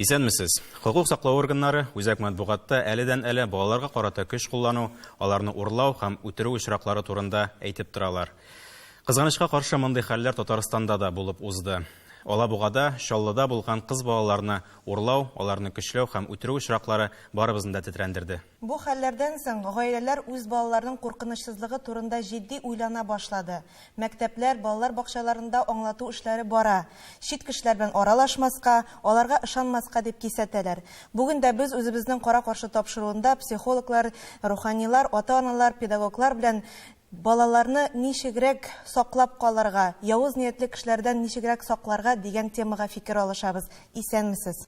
Исәнмесез. Хокук саклау органнары үзәк матбугатта әледән-әле балаларга карата көч куллану, аларны урлау һәм үтерү очраклары турында әйтеп торалар. Кызганычка каршы мондый хәлләр Татарстанда да булып узды. Алабугада, Чаллыда булган кыз балаларны урлау, аларны көчләү һәм үтерү очраклары барыбызны да тетрәндерде. Бу хәлләрдән соң гаиләләр үз балаларының куркынычсызлыгы турында җитди уйлана башлады. Мәктәпләр, балалар бакчаларында аңлату эшләре бара. Чит кешеләр белән аралашмаска, аларга ышанмаска дип кисәтәләр. Бүген дә без үзебезнең кара-каршы тапшыруында психологлар, руханилар, ата-аналар, педагоглар белән Балаларны ничегрәк саклап калырга, явыз ниятле кешеләрдән ничегрәк сакларга дигән темага фикер алышабыз. Исәнмесез!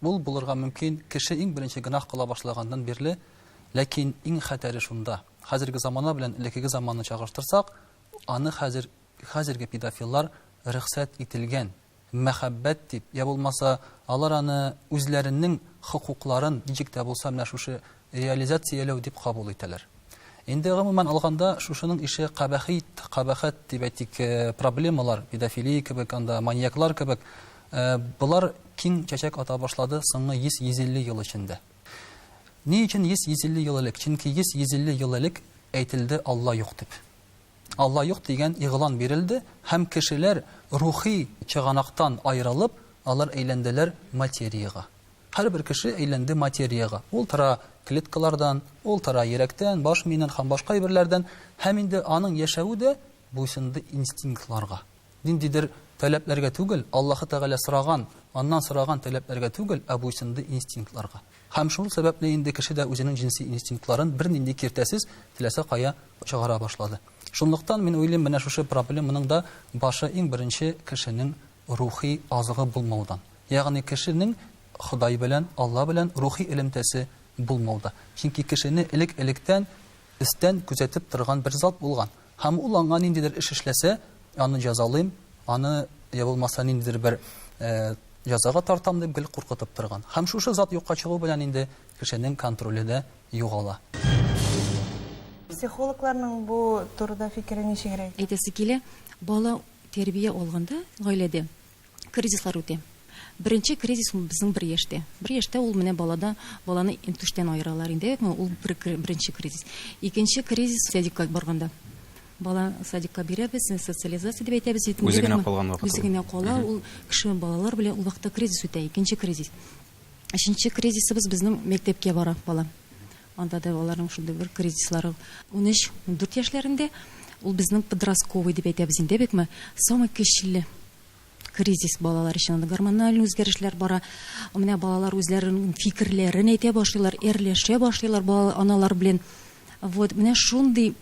Ул булырга мөмкин, кеше иң беренче гөнаһ кыла башлаганнан бирле, ләкин иң хәтәре шунда, хәзерге замана белән элеккеге заманны чагыштырсак, аны хәзер, хәзерге педофиллар рөхсәт ителгән, мәхәббәт дип, йә булмаса, алар аны үзләренең хокукларын ничек тә булса менә шушы реализацияләү дип кабул итәләр. Инде гомумән алганда, шушының ише кабәхит, кабахәт дип әйтик, проблемалар, педофилия кебек, анда маньяклар кебек, болар киң чәчәк ата башлады соңгы 100-150 ел эчендә. Ни өчен 100-150 ел элек? Чөнки 100-150 ел элек әйтелде Алла юк дип. Алла юк дигән игълан бирелде һәм кешеләр рухи чыганактан аерылып, алар әйләнделәр материягә. Һәрбер кеше әйләнде материягә. Ул тора клеткалардан, ул тора йөрәктән, баш миеннән һәм башка әйберләрдән. Һәм инде аның яшәве дә буйсынды инстинктларга. Ниндидер таләпләргә түгел, Аллаһы Тәгалә сораган, аннан сораган таләпләргә түгел, ә буйсынды инстинктларга. Һәм шул сәбәпле инде кеше дә үзенең җенси инстинктларын бернинди киртәсез теләсә кая чыгара башлады. Шунлыктан мин уйлыйм, менә шушы проблеманың да башы иң беренче кешенең рухи азыгы булмаудан, ягъни кешенең Ходай белән, Алла белән рухи элемтәсе булмауда. Чөнки кешене элек-электән өстән күзәтеп торган бер зат булган. Һәм ул аңа ниндидер эш эшләсә, аны җәзалыйм, аны, йә булмаса, ниндидер бер җәзага тартам дип гел куркытып торган. Һәм шушы зат юкка чыгу белән инде кешенең контроле дә югала. Психологларның бу турыда фикере ничегрәк? Әйтәсе килә, бала Тәрбия алганда гаиләдә кризислар үтә. Беренче кризис ул безнең бер яшьтә. Бер яшьтә ул менә балада баланы интүштән аералар инде, әйтмә, ул бер беренче кризис. Икенче кризис садикка барганда. Бала садикка бирәбез, социализация дип әйтәбез бит. Үзе генә калган вакыт. Үзе генә кала, ул кеше балалар белән ул вакытта кризис үтә, икенче кризис. Өченче кризисыбыз безнең мәктәпкә бара бала. Анда да аларның шундый бер кризислары ул. Унөч, ундүрт яшьләрендә ул безнең подростковый дип әйтәбез инде бекме, самый көчле кризис балалар өчен. Анда гормональ үзгәрешләр бара. Менә балалар үзләренең фикерләрен әйтә башлыйлар, эрләшә башлыйлар балалар аналар белән. Вот, менә шундый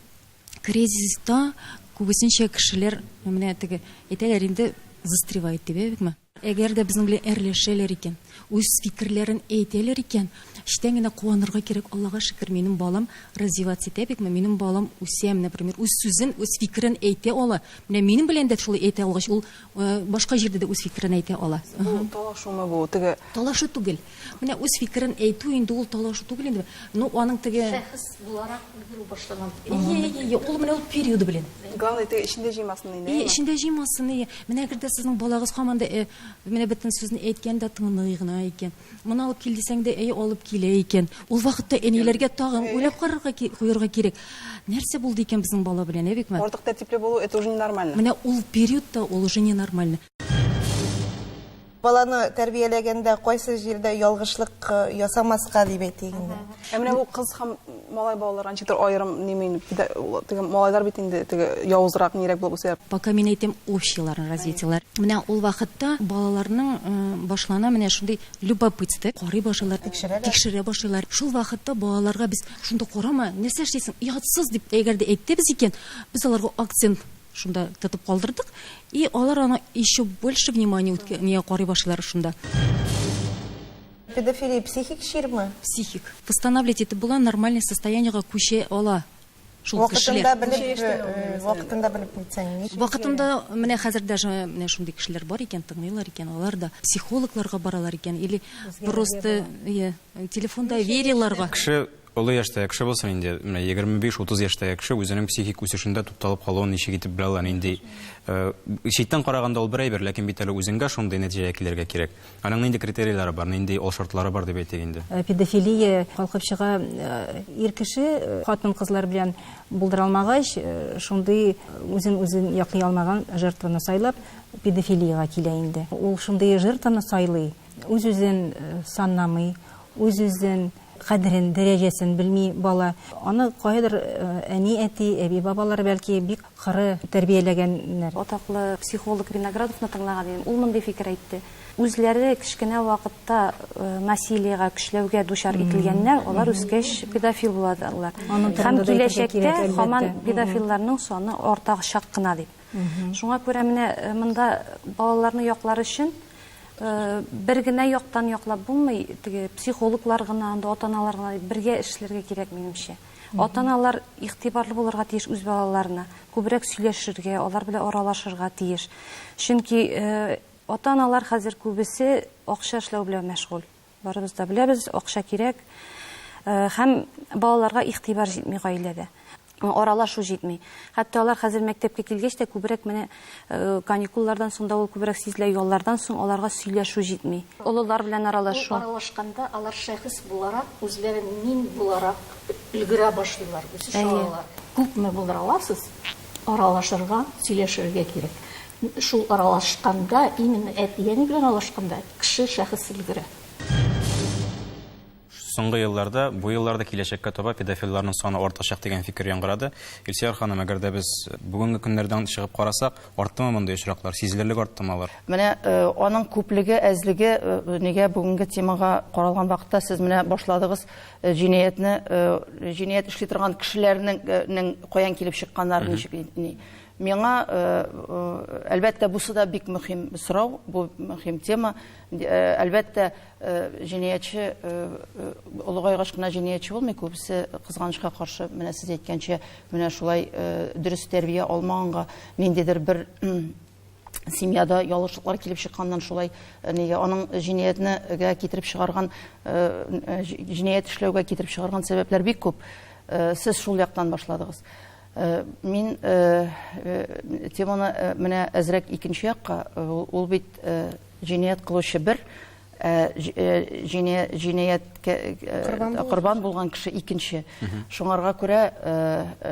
кризиста күбесенчә кешеләр менә теге әйтәләр инде застревает дип, әйбекме? Әгәр дә безнең белән әрләшәләр икән, үз фикерләрен әйтәләр икән, эчтән генә куанырга кирәк, Аллага шөкер, минем балам развиваться итә бит, минем балам үсә, менә пример, үз сүзен, үз фикерен әйтә ала. Менә минем белән дә шулай әйтә алгач, ул башка җирдә дә үз фикерен әйтә ала. Бу талашумы бу, теге? Талашу түгел. Менә үз фикерен әйтү инде ул талашу түгел инде. Ну, аның теге Шәхес буларак үгерү башлаган. Ие, ул менә ул периоды белән. Главное, теге эчендә җыймасын инде. Ие, эчендә җыймасын, ие. Менә әгәр дә сезнең балагыз һаман да э, менә бөтен сүзне әйткән дә тыңлый гына икән. Моны алып кил дисәң дә, әйе, алып килә икән. Ул вакытта әниләргә тагын уйлап карарга куярга кирәк. Нәрсә булды икән безнең бала белән, ә Бикмәт? Артык тәртипле булу это уже ненормально. Менә ул периодта ул уже ненормально. баланы тәрбияләгәндә кайсы җирдә ялгышлык э, ясамаска дип әйтик инде. Ә менә бу кыз һәм малай балалар анчытыр аерым нимин теге малайлар бит инде теге явызрак нирәк булып үсә. Пока мин әйтәм общияләрне развитиелар. Менә ул вакытта балаларның э, башлана менә шундый любопытство карый башлыйлар, тикшерә башлыйлар. Шул вакытта балаларга без шунда карама, нәрсә эшлисең, ятсыз дип әгәр дә әйтте без икән, без аларга акцент Шунда тотып калдырдык. И алар аны еще больше внимание үткәнгә карый башлар шунда. Педофилия психик чирме? Психик. Восстанавливать итеп була, нормальный состояниега күчә ала. Шул кешеләр. Вакытында белеп, э, вакытында белеп китсәң. Вакытында менә хәзер даже менә шундый кешеләр бар икән, тыңлыйлар икән, алар да психологларга баралар икән или просто телефонда вериларга. Кеше Олы яшьтәге кеше булсын инде, менә 25-30 яшьтәге кеше үзенең психик үсешендә тукталып калуын ничек итеп белә ала, нинди э, читтән караганда ул бер әйбер, ләкин бит әле үзеңгә шундый нәтиҗәгә килергә кирәк. Аның нинди критерийлары бар, нинди ул шартлары бар дип әйтик инде. Э, педофилия калкып чыга, э, ир кеше хатын-кызлар белән булдыра алмагач, шундый үзен үзен яклый алмаган жертваны сайлап, педофилиягә килә инде. Ул шундый жертваны сайлый, Үз-үзен санамый, үз-үзен кадерен, дәрәҗәсен белми бала. Аны каядыр әни-әти, әби-бабалар, бәлки, бик коры тәрбияләгәннәр. Атаклы психолог Виноградовны тыңлаган идем, ул мондый фикер әйтте, үзләре кечкенә вакытта насилиегә, көчләүгә дучар ителгәннәр, алар үскәч педофил булалар. Һәм киләчәктә һаман педофилларның саны артачак кына дип. Шуңа күрә менә э, монда балаларны яклар өчен э, бер генә яктан яклап булмый, теге психологлар гына, анда ата-аналар гына бергә эшләргә кирәк минемчә. Ата-аналар игътибарлы булырга тиеш үз балаларына, күбрәк сөйләшергә, алар белән аралашырга тиеш. Чөнки э, ата-аналар хәзер күбесе акча эшләү белән мәшгуль. Барыбыз да беләбез, акча кирәк. Һәм балаларга игътибар җитми гаиләдә. Аралашу җитми. Хәтта алар хәзер мәктәпкә килгәч тә күбрәк менә каникуллардан соң да ул күбрәк сизелә, яллардан соң аларга сөйләшү җитми. Олылар белән аралашу. Аралашканда алар шәхес буларак, үзләрен мин буларак өлгерә башлыйлар, үсеш алалар. Күпме булдыра аласыз? аралашырга, сөйләшергә кирәк. Шул аралашканда, именно әти-әни белән аралашканда, кеше шәхес өлгерә. Соңгы елларда, бу елларда киләчәккә таба педофилларның саны артачак дигән фикер яңгырады. Илсөяр ханым, әгәр дә без бүгенге көннәрдән чыгып карасак, арттымы мондый очраклар, сизелерлек арттымы алар? Менә аның күплеге, әзлеге, нигә бүгенге темага каралган вакытта сез менә башладыгыз, Җинаятьне, җинаять эшли торган кешеләрнең каян килеп чыкканнары, ничек, ни. Миңа, әлбәттә, бусы да бик мөһим сорау, бу мөһим тема. Әлбәттә, җинаятьче олыгайгач кына җинаятьче булмый, күбесе, кызганычка каршы, менә сез әйткәнчә, менә шулай дөрес тәрбия алмаганга, ниндидер бер семьяда ялгышлыклар килеп чыкканнан шулай э, нигә аның җинаятьнегә китереп чыгарган э, э, җинаять эшләүгә китереп чыгарган сәбәпләр бик күп сез шул яктан башладыгыз мин теманы менә әзрәк икенче якка ул бит җинаять кылучы бер Э, э, җинаять э, корбан булган кеше икенче шуңарга күрә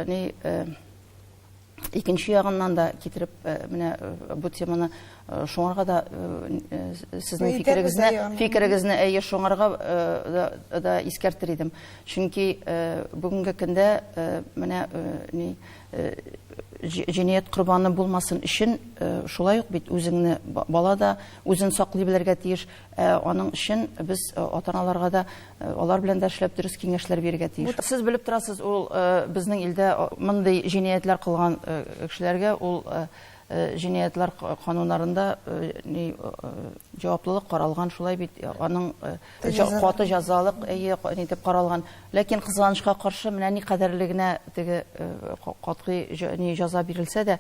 ни икенче ягыннан да китереп э, менә э, бу теманы э, шуңарга да сезнең фикерегезне фикерегезне әйе шуңарга да искәртер идем чөнки бүгенге көндә менә ни җинаять корбаны булмасын өчен шулай ук бит үзеңне бала да үзен саклый белергә тиеш Ә аның өчен без э, ата-аналарга да э, алар белән дә эшләп дөрес киңәшләр бирергә тиеш. Сез белеп торасыз, ул э, безнең илдә мондый җинаятьләр кылган кешеләргә ул җинаятьләр кануннарында ни җаваплылык каралган, шулай бит. Аның каты җәзалык әйе нитеп каралган. Ләкин кызганычка каршы, менә ни кадәрле генә теге катгый ни җәза бирелсә дә,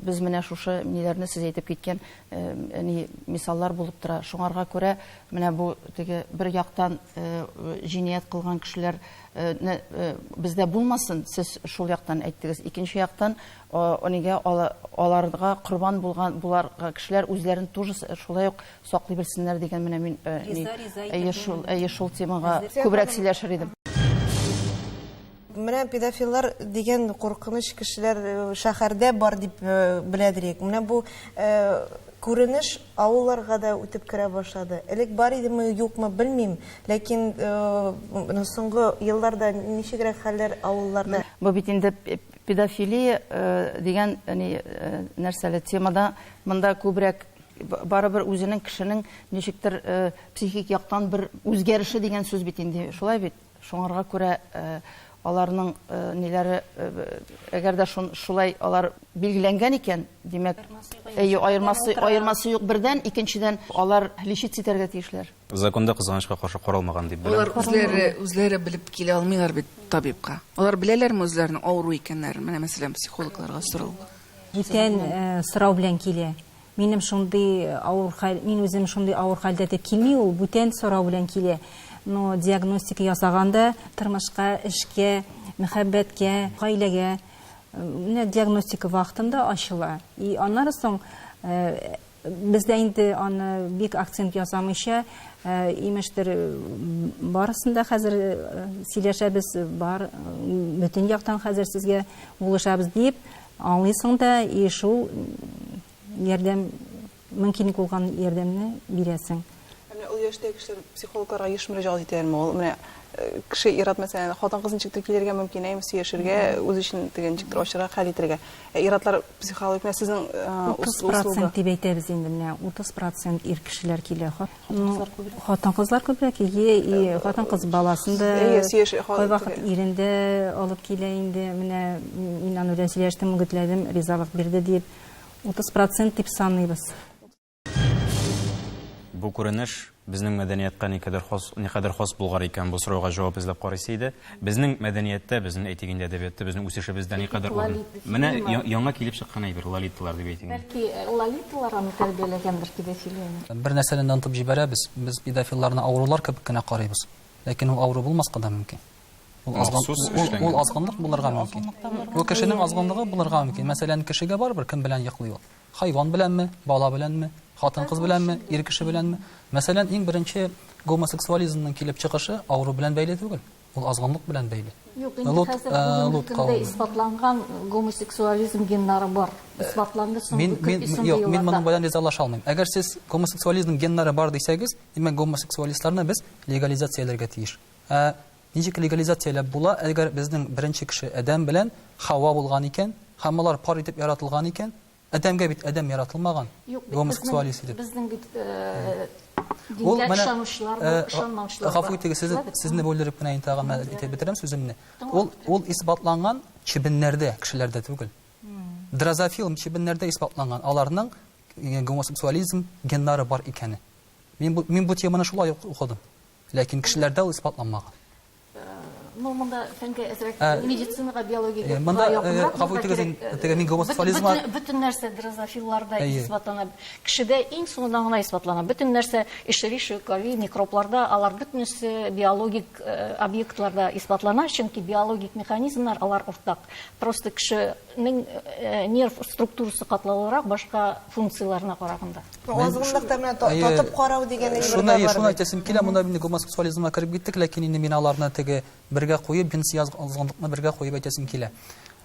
Без менә шушы ниләрне сез әйтеп киткән ни мисаллар булып тора. Шуңарга күрә менә бу теге бер яктан җинаять кылган кешеләр не бездә булмасын, сез шул яктан әйттегез. Икенче яктан нигә аларга корбан булган болар кешеләр үзләрен тоже шулай ук саклый белсеннәр дигән менә мин әйе шул әйе шул темага күбрәк сөйләшер идем. Менә педофиллар дигән куркыныч кешеләр э, шәһәрдә бар дип э, белә дирек. Менә бу э, күренеш авылларга да үтеп керә башлады. Элек бар идеме, юкмы, белмим, ләкин э, соңгы елларда ничегрәк хәлләр авылларда? Бу бит инде педофилия э, дигән ни э, нәрсәле темада монда күбрәк барыбер үзенең кешенең ничектер э, психик яктан бер үзгәреше дигән сүз бит инде. Шулай бит. Шуңарга күрә аларның ниләре, әгәр дә шулай алар билгеләнгән икән, димәк, әйе, аермасы юк бердән, икенчедән, алар лечиться итәргә тиешләр. Законда, кызганычка каршы, каралмаган дип беләм. Алар үзләре белеп килә алмыйлар бит табибка. Алар беләләрме үзләренең авыру икәннәрен? Менә мәсәлән, психологларга сорау. Бүтән сорау белән килә. Минем шундый авыр хәл, мин үзем шундый авыр хәлдә дип килми ул, бүтән сорау белән килә. Но диагностика ясаганда тормышка, эшкә, мәхәббәткә, гаиләгә менә диагностика вакытында ачыла. И аннары соң бездә инде аны бик акцент ясамыйча, имештер, барысын да хәзер сөйләшәбез, бар, бөтен яктан хәзер сезгә булышабыз дип, Аңлыйсың да и шул ярдәм мөмкинлек булган ярдәмне бирәсең. Ә менә ул яшьтәге кешеләр психологларга еш мөрәҗәгать итәләрме? Ул менә кеше ир-ат мәсәлән, хатын-кыз ничектер килергә мөмкин, әйме, сөяшергә, үзе өчен теге ничектер ачырга, хәл итергә. Ә ир-атлар психологик менә сезнең 30 процент дип әйтәбез инде, менә 30 процент ир кешеләр килә. Хатын-кызлар күбрәк. Хатын-кызлар күбрәк, ие, и хатын-кыз баласын да кайвакыт ирен дә алып килә инде. Менә мин аны белән сөйләштем, үгетләдем, ризалык бирде диеп, 30 процент дип саныйбыз. Бу күренеш безнең мәдәниятка никадәр хас, никадәр хас булгар икән, бу сорауга җавап эзләп карыйсы иде. Безнең мәдәнияттә, безнең, әйтик инде, әдәбиятта, безнең үсешебездә никадәр урын. Менә яңа килеп чыккан әйбер, лолиталар дип әйтик. Бәлки, лолиталар аны тәрбияләгәндер, педофилияне. Бер нәрсәне дә онытып җибәрәбез, без педофилларны авырулар кебек кенә карыйбыз. Ләкин ул авыру булмаска да мөмкин. Ул азгынлык булырга мөмкин. Ул кешенең азгынлыгы булырга мөмкин. Мәсәлән, кешегә барыбер кем белән йоклый ул. Хайван беләнме, бала беләнме, хатын-кыз беләнме, ир кеше беләнме? Мәсәлән, иң беренче гомосексуализмның килеп чыгышы авыру белән бәйле түгел, ул азгынлык белән бәйле. Юк, инде Лут, хәзер э, бүгенге Лут көндә кавеме. исбатланган гомосексуализм геннары бар. Исбатланды соңгы Мин, мин, 45 юк, мин елларда. моның белән ризалаша алмыйм. Әгәр сез гомосексуализмның геннары бар дисәгез, димәк, гомосексуалистларны без легализацияләргә тиеш. Ә Ничек легализацияләп була, әгәр безнең беренче кеше Адәм белән Хава булган икән, һәм алар пар итеп яратылган икән? Адәмгә бит Адәм яратылмаган, гомосексуалист итеп. Безнең бит дингә ышанучылар бар, ышанмаучылар бар. Гафу итегез, сезне бүлдереп кенә инде тагын мәл итеп бетерәм сүземне. Ул исбатланган чебеннәрдә, кешеләрдә түгел. Дрозофил чебеннәрдә исбатланган, аларның гомосексуализм геннары бар икәне. Мин бу теманы шулай ук укыдым. Ләкин кешеләрдә ул исбатланмаган. Ну, монда фәнгә әзрәк медицинага, биологиягә монда якынрак. Гафу итегез, теге мин гомосексуализмга бөтен нәрсә дрозофилларда исбатлана. Кешедә иң соңыннан гына исбатлана. Бөтен нәрсә эшерише, кори, микробларда, алар бөтенесе биологик объектларда исбатлана, чөнки биологик механизмнар алар уртак. Просто кеше Мин нерв структурасы катлаулырак башка функцияләренә караганда. Азгынлыкта менә татып карау дигән әйбер дә бар. Шуны әйтәсем килә, монда инде гомосексуализмга кереп киттек, ләкин инде мин аларны теге бергә куеп, җенси азгынлыкны бергә куеп әйтәсем килә.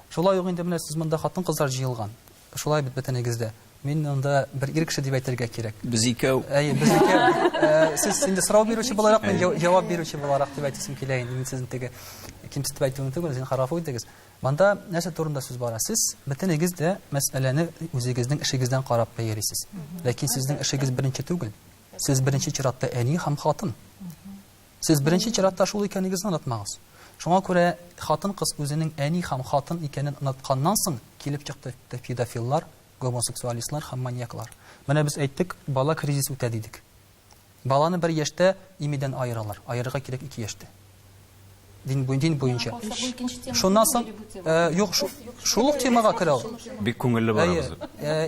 Шулай ук инде менә сез монда хатын-кызлар җыелган. Шулай бит бөтенегез дә. Мин монда бер ир кеше дип әйтергә кирәк. Без икәү. Әйе, без икәү. Сез инде сорау бирүче буларак, мин җавап бирүче буларак дип әйтәсем килә инде. Мин сезне теге кимсетеп әйтүем түгел, зинһар, гафу итегез. Монда нәрсә турында сүз бара? Сез бөтенегез дә мәсьәләне үзегезнең эшегездән карап бәялисез. Ләкин сезнең эшегез беренче түгел. Сез беренче чиратта әни һәм хатын. Сез беренче чиратта шул икәнегезне онытмагыз. Шуңа күрә хатын-кыз үзенең әни һәм хатын икәнен онытканнан соң килеп чыкты педофиллар, гомосексуалистлар һәм маньяклар. Менә без әйттек, бала кризис үтә дидек. Баланы бер яшьтә имидән аералар. Аерырга кирәк ике яшьтә. Дин буен дин буенча. Шуннан соң юк шул ук темага керә ул. Бик күңелле барабыз.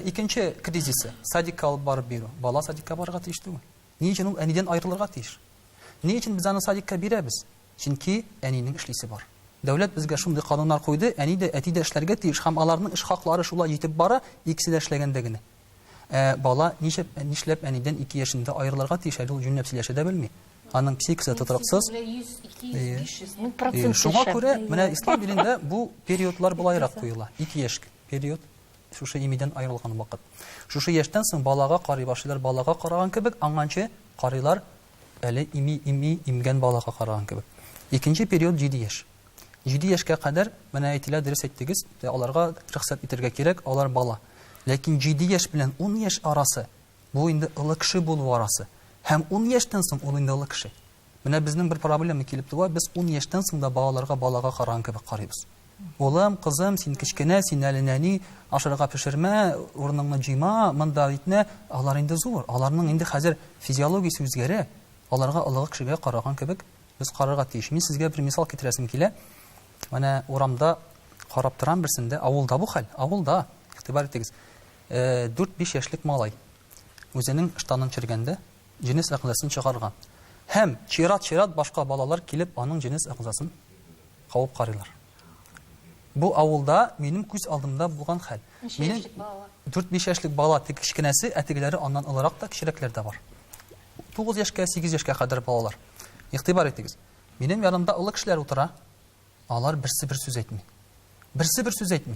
Икенче кризисы садикка алып барып бирү. Бала садикка барырга тиеш түгел. Ни өчен ул әнидән аерылырга тиеш? Ни өчен без аны садикка бирәбез? Чөнки әнинең эшлисе бар. Дәүләт безгә шундый кануннар куйды, әни дә, әти дә эшләргә тиеш һәм аларның эш хаклары шулай җитеп бара, икесе дә эшләгәндә генә. Ә бала ничек, нишләп әнидән ике яшендә аерылырга тиеш, әле ул җүнләп сөйләшә дә белми. Аның психикасы тотрыксыз. Шуңа күрә, менә ислам динендә бу периодлар болайрак куела. Ике яшь период, шушы имидән аерылган вакыт. Шушы яшьтән соң балага карый башлыйлар, балага караган кебек, аңанчы карыйлар әле ими, ими, имгән балага караган кебек. Икенче период җиде яшь. Җиде яшькә кадәр, менә әйтелә, дөрес әйттегез, аларга рөхсәт итәргә кирәк, алар бала. Ләкин җиде яшь белән ун яшь арасы, бу инде олы кеше булу арасы. Һәм ун яшьтән соң ул инде олы кеше. Менә безнең бер проблема килеп туа, без ун яшьтән соң да балаларга балага караган кебек карыйбыз. Улым, кызым, син кечкенә, син әле нәни, ашарга пешермә, урыныңны җыйма, монда итмә. Алар инде зур, аларның инде хәзер физиологиясе үзгәрә, аларга олыгы кешегә караган кебек Без карарга тиеш. Мин сезгә бер мисал китерәсем килә. Менә урамда карап торам берсендә, авылда бу хәл, авылда, игътибар итегез. 4-5 яшьлек малай үзенең штанын чергәндә җенес әгъзасын чыгарган. Һәм чират-чират башка балалар килеп аның җенес әгъзасын кавып карыйлар. Бу авылда минем күз алдымда булган хәл. Минем 4-5 яшьлек бала тик кечкенәсе, ә тегеләре аннан олырак та, кечерәкләр дә бар. 9 яшькә, 8 яшькә кадәр балалар. Игътибар итегез. Минем янымда олы кешеләр утыра. Алар берсе бер сүз әйтми. Берсе бер сүз әйтми.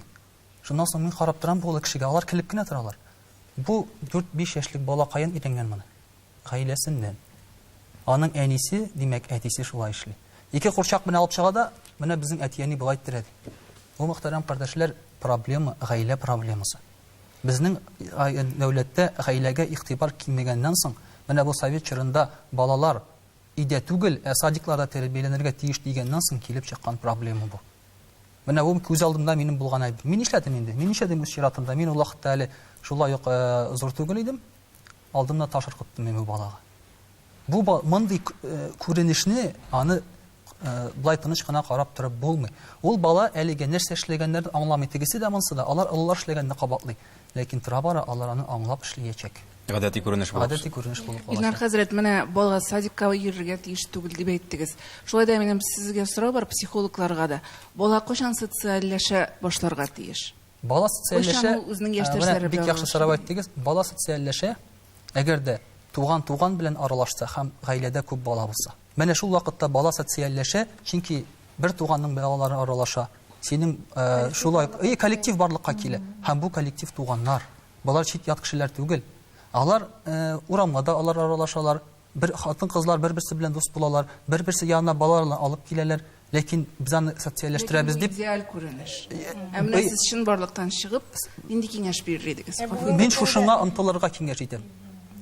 Шуннан соң мин карап торам бу олы кешегә, алар килеп кенә торалар. Бу 4-5 яшьлек бала каян өйрәнгән моны? Гаиләсеннән. Аның әнисе, димәк, әтисе шулай эшли. Ике курчак белән алып чыга да, менә безнең әти-әни болай иттеләр, ди. Бу, мөхтәрәм кардәшләр, проблема, гаилә проблемасы. Безнең дәүләттә гаиләгә игътибар кимегәннән соң, менә бу совет чорында балалар өйдә түгел, ә садикларда тәрбияләнергә тиеш дигәннән соң килеп чыккан проблема бу. Менә бу күз алдымда минем булган әби. Мин нишләдем инде? Мин нишләдем үз чиратымда? Мин ул вакытта әле шулай ук зур түгел идем. алдымда таш ыркыттым мин бу балага. Бу мондый күренешне аны былай тыныч кына карап торып булмый. Ул бала әлегә нәрсә эшләгәннәрен аңламый. Тегесе дә монсы да алар олылар эшләгәнне кабатлый. Ләкин тора-бара алар аны аңлап эшлиячәк. Гадәти күренеш булып. Гадәти күренеш булып калачак. Илнар хәзрәт, менә бала садикка йөрергә тиеш түгел дип әйттегез. Шулай да минем сезгә сорау бар психологларга да. Бала кайчан социальләшә башларга тиеш? Бала социальләшә. Менә бик яхшы сорау әйттегез. Бала социальләшә, әгәр дә туган туган белән аралашса һәм гаиләдә күп бала булса. Менә шул вакытта бала социальләшә, чөнки бер туганның балалары аралаша. Синең шулай и коллектив барлыкка килә. Һәм бу коллектив туганнар. Болар чит ят кешеләр түгел. Алар урамга да алар аралашалар. Бер хатын-кызлар бер-берсе белән дус булалар, бер-берсе янына балаларны алып киләләр, ләкин без аны социальләштерәбез дип. Ләкин бу идеаль күренеш. Ә менә сез чынбарлыктан чыгып, нинди киңәш бирер идегез? Мин шушыңа омтылырга киңәш итәм.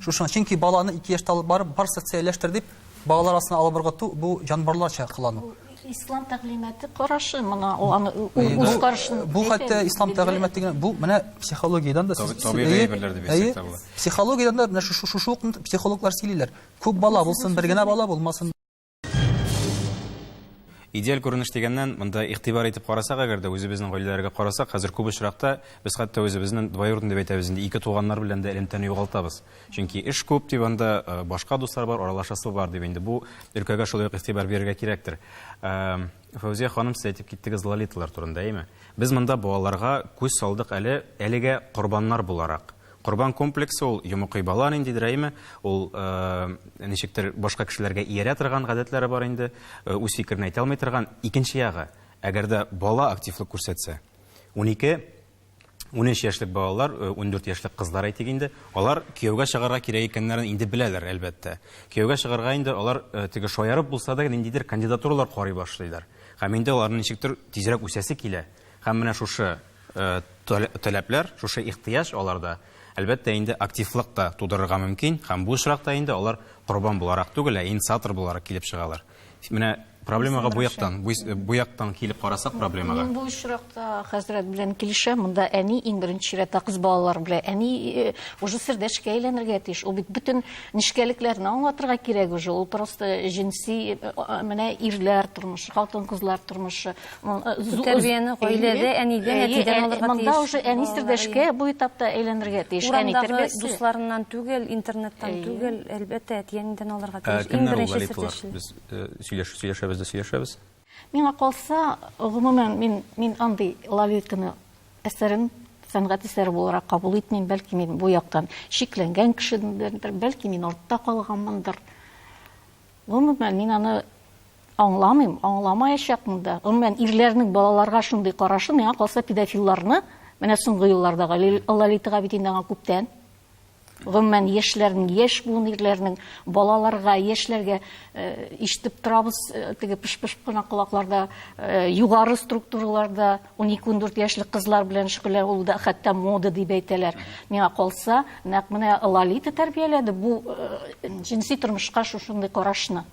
Шушыңа, чөнки баланы ике яшьтә алып барып, бар социальләштер дип, балалар арасына алып ыргыту, бу җанбарларча кылану. Ислам тәгълиматы карашы мына ул аны үз карашын Бу хәтта ислам тәгълиматы генә бу менә психологиядән дә табигый әйберләр дип әйтсәк тә була. Психологиядән дә менә шушы шушы ук психологлар сөйлиләр. Күп бала булсын, бер генә бала булмасын. Идеаль күренеш дигәннән, монда игътибар итеп карасак, әгәр дә үзебезнең гаиләләргә карасак, хәзер күп очракта без хәтта үзебезнең двоюродный дип әйтәбез инде, ике туганнар белән дә элемтәне югалтабыз. Чөнки эш күп дип анда э, башка дуслар бар, аралашасы бар дип инде бу өлкәгә шулай ук игътибар бирергә кирәктер. Э, Фәүзия ханым, сез әйтеп киттегез лолиталар турында, әйме? Без монда балаларга күз салдык әле әлегә корбаннар буларак. Корбан комплексы ул йомыкый бала ниндидер, әйме? Ул э, ничектер башка кешеләргә иярә торган гадәтләре бар инде, үз фикерен әйтә алмый торган. Икенче ягы, әгәр дә бала активлык күрсәтсә, 12 13 яшьлек балалар, 14 э, яшьлек кызлар әйтик инде, алар кияүгә чыгарга кирәк икәннәрен инде беләләр, әлбәттә. Кияүгә чыгарга инде алар э, теге шаярып булса да ниндидер кандидатуралар карый башлыйлар. Һәм инде аларның ничектер тизрәк үсәсе килә. Һәм менә шушы э, таләпләр, шушы ихтыяҗ аларда әлбәттә инде активлык та тудырырга мөмкин, һәм бу очракта инде алар корбан буларак түгел, ә инициатор буларак килеп чыгалар. Менә проблемага бу яктан, бу яктан килеп карасак проблемага. Мин бу очракта хәзрәт белән килешәм. Монда әни иң беренче чиратта кыз балалар белән әни э, уже сердәшкә әйләнергә тиеш. Ул бит бөтен нечкәлекләрне аңлатырга кирәк уже. Ул просто җенси э, менә ирләр тормышы, хатын-кызлар тормышы. Тәрбияне гаиләдә, әнидән, әтидән алырга тиеш. Монда уже әнистер дә эшкә бу этапта әйләнергә тиеш. Урамдагы дусларыннан түгел, интернеттан түгел, әлбәттә, әти-әнидән алырга тиеш. Иң беренче сүз. Без сөйләшү сөйләшәбез дә сөйләшәбез. Миңа калса, гомумән, мин мин андый Лолитканы әсәрен сәнгать әсәре буларак кабул итмим. Бәлки, мин бу яктан чикләнгән кешедер, бәлки, мин артта калганмындыр. Гомумән, мин аны аңламыйм, аңламаячакмын да. Гомумән, ирләрнең балаларга шундый карашы, миңа калса, педофилларны, менә соңгы елларда Лолита Габидиновага күптән, гомумән, яшьләрнең, яшь буын ирләрнең балаларга, яшьләргә ишетеп торабыз, теге пыш-пыш кына колакларда, югары структураларда, 12-14 яшьлек кызлар белән шөгыльләнә, ул да хәтта мода дип әйтәләр. Миңа калса, нәкъ менә Лолита тәрбияләде бу э, җенси тормышка шушындый карашны.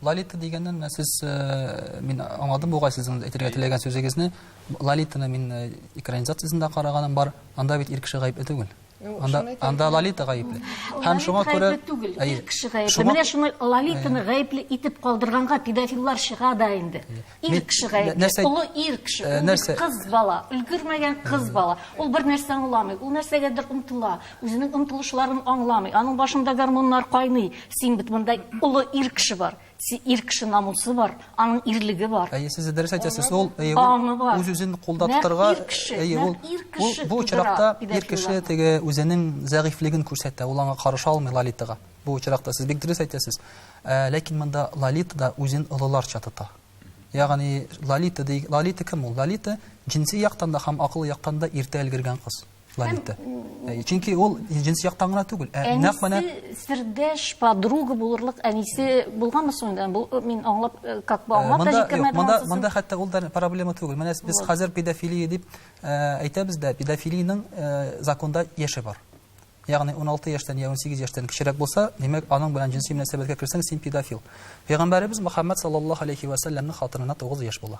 Лолита дигәннән менә сез э, мин аңладым бугай сезнең әйтергә теләгән сүзегезне. Лолитаны мин э, экранизациясендә караганым бар. Анда бит ир кеше гаепле түгел. Ну, анда, шуны әйтәм. анда Лолита гаепле. Һәм шуңа Лолита күрә... гаепле түгел, Әйе. ир кеше гаепле. Шуңа- Менә шуны Лолитаны гаепле итеп калдырганга педофиллар чыга да инде. Ир Мин- кеше гаепле, нәрсә- олы ир кеше, Э, ул нәрсә- бит кыз бала, өлгермәгән кыз бала. Ул бер нәрсә аңламый, ул нәрсәгәдер омтыла, үзенең омтылышларын аңламый. Аның башында гормоннар кайный. Син бит монда олы ир кеше бар. Си ир кеше намусы бар, аның ирлеге бар. Әйе, сез дә дөрес әйтәсез. Ул әйе, үз-үзен кулда тотарга, әйе, ул бу очракта ир кеше теге үзенең зәгыйфлеген күрсәтә, ул аңа карыша алмый Лолитага. Бу очракта сез бик дөрес әйтәсез. Ә, ләкин монда Лолита да үзен олыларча тота. Ягъни Лолита ди, Лолита кем ул? Лолита җинси яктан да һәм акыл яктан да иртә өлгергән кыз. Лолита. Э, чөнки ул җенси яктан гына түгел, ә нәкъ менә сердәш подруга булырлык әнисе булганмы соң инде? Бу э, мин аңлап, э, как бы аңлап та җиткермәдем. Монда монда хәтта ул да проблема түгел. Менә без хәзер педофилия дип әйтәбез дә, педофилиянең законда яше бар. Ягъни 16 яшьтән я 18 яшьтән кечерәк булса, димәк, аның белән җенси мөнәсәбәткә керсәң, син педофил. Пәйгамбәребез Мөхәммәд саллаллаһу алейхи ва саллямның хатынына 9 яшь була.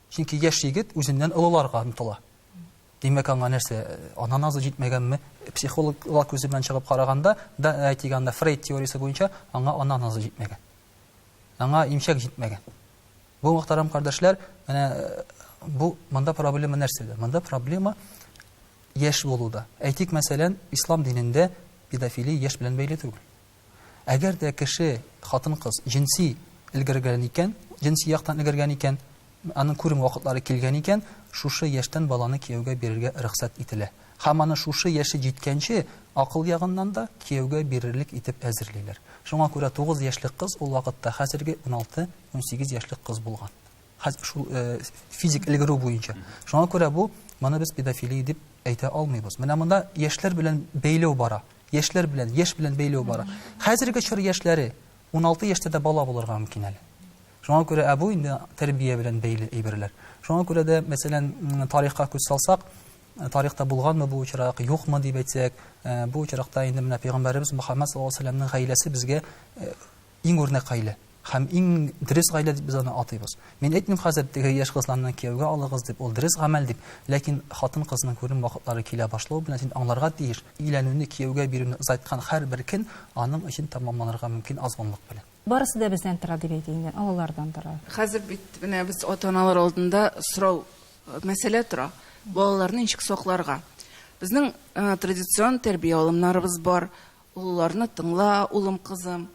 Чөнки яшь егет үзеннән олыларга омтыла. Димәк, аңа нәрсә, ана назы җитмәгәнме? Психологлар күзе белән чыгып караганда, да әйтик анда Фрейд теориясе буенча аңа ана назы җитмәгән. Аңа имчәк җитмәгән. Бу мөхтәрәм кардәшләр, менә э, бу монда проблема нәрсәдә? Монда проблема яшь булуда. Әйтик, мәсәлән, ислам динендә педофилия яшь белән бәйле түгел. Әгәр дә кеше, хатын-кыз, җенси өлгергән икән, җенси яктан өлгергән икән, аның күрем вакытлары килгән икән, шушы яшьтән баланы кияүгә бирергә рөхсәт ителә. Һәм аны шушы яше җиткәнче акыл ягыннан да кияүгә бирерлек итеп әзерлиләр. Шуңа күрә тугыз яшьлек кыз ул вакытта хәзерге уналты-унсигез яшьлек кыз булган. Хәзер шул э, физик өлгерү буенча. Шуңа күрә бу моны без педофилия дип әйтә алмыйбыз. Менә монда яшьләр белән бәйләү бара. Яшьләр белән, яшь белән бәйләү бара. Хәзерге чор яшьләре 16 яшьтә дә бала булырга мөмкин әле. Шуңа күрә ә бу инде тәрбия белән бәйле әйберләр. Шуңа күрә дә, мәсәлән, тарихка күз салсак, э, тарихта булганмы бу очрак, юкмы дип әйтсәк, э, бу очракта инде менә пәйгамбәребез Мөхәммәд саллаллаһу алейһи гаиләсе безгә э, Иң үрнәк гаилә һәм иң дөрес гаилә дип без аны атыйбыз. Мин әйтмим хәзер, теге яшь кызларны кияүгә алыгыз дип, ул дөрес гамәл дип, ләкин хатын-кызның күренү вакытлары килә башлау белән син аңларга тиеш, өйләнүне, кияүгә бирүне озайткан һәрбер көн аның өчен тәмамланырга мөмкин азгынлык белән. Барысы да бездән тора дип әйтә инде, олылардан тора. Хәзер бит менә без ата-аналар алдында сорау, мәсьәлә тора, балаларны ничек сакларга? Безнең традицион тәрбия алымнарыбыз бар, Олыларны тыңла, улым, кызым.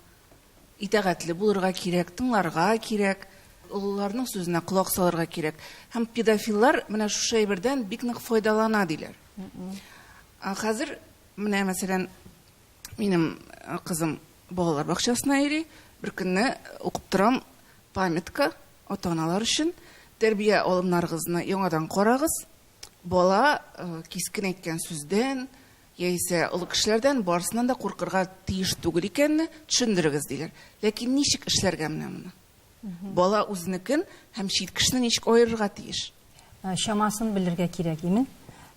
Итәгатьле булырга кирәк, тыңларга кирәк, олыларның сүзенә колак салырга кирәк. Һәм педофиллар менә шушы әйбердән бик нык файдалана, диләр. Ә хәзер, менә, мәсәлән, минем кызым балалар бакчасына йөри, беркөнне укып торам, памятка ата-аналар өчен, тәрбия алымнарыгызны яңадан карагыз, бала кискен әйткән сүздән, Яисә олы кешеләрдән барысыннан да куркырга тиеш түгел икәнне төшендерегез, диләр. Ләкин ничек эшләргә менә моны? Бала үзенекен һәм чит кешене ничек аерырга тиеш? Чамасын белергә кирәк имин.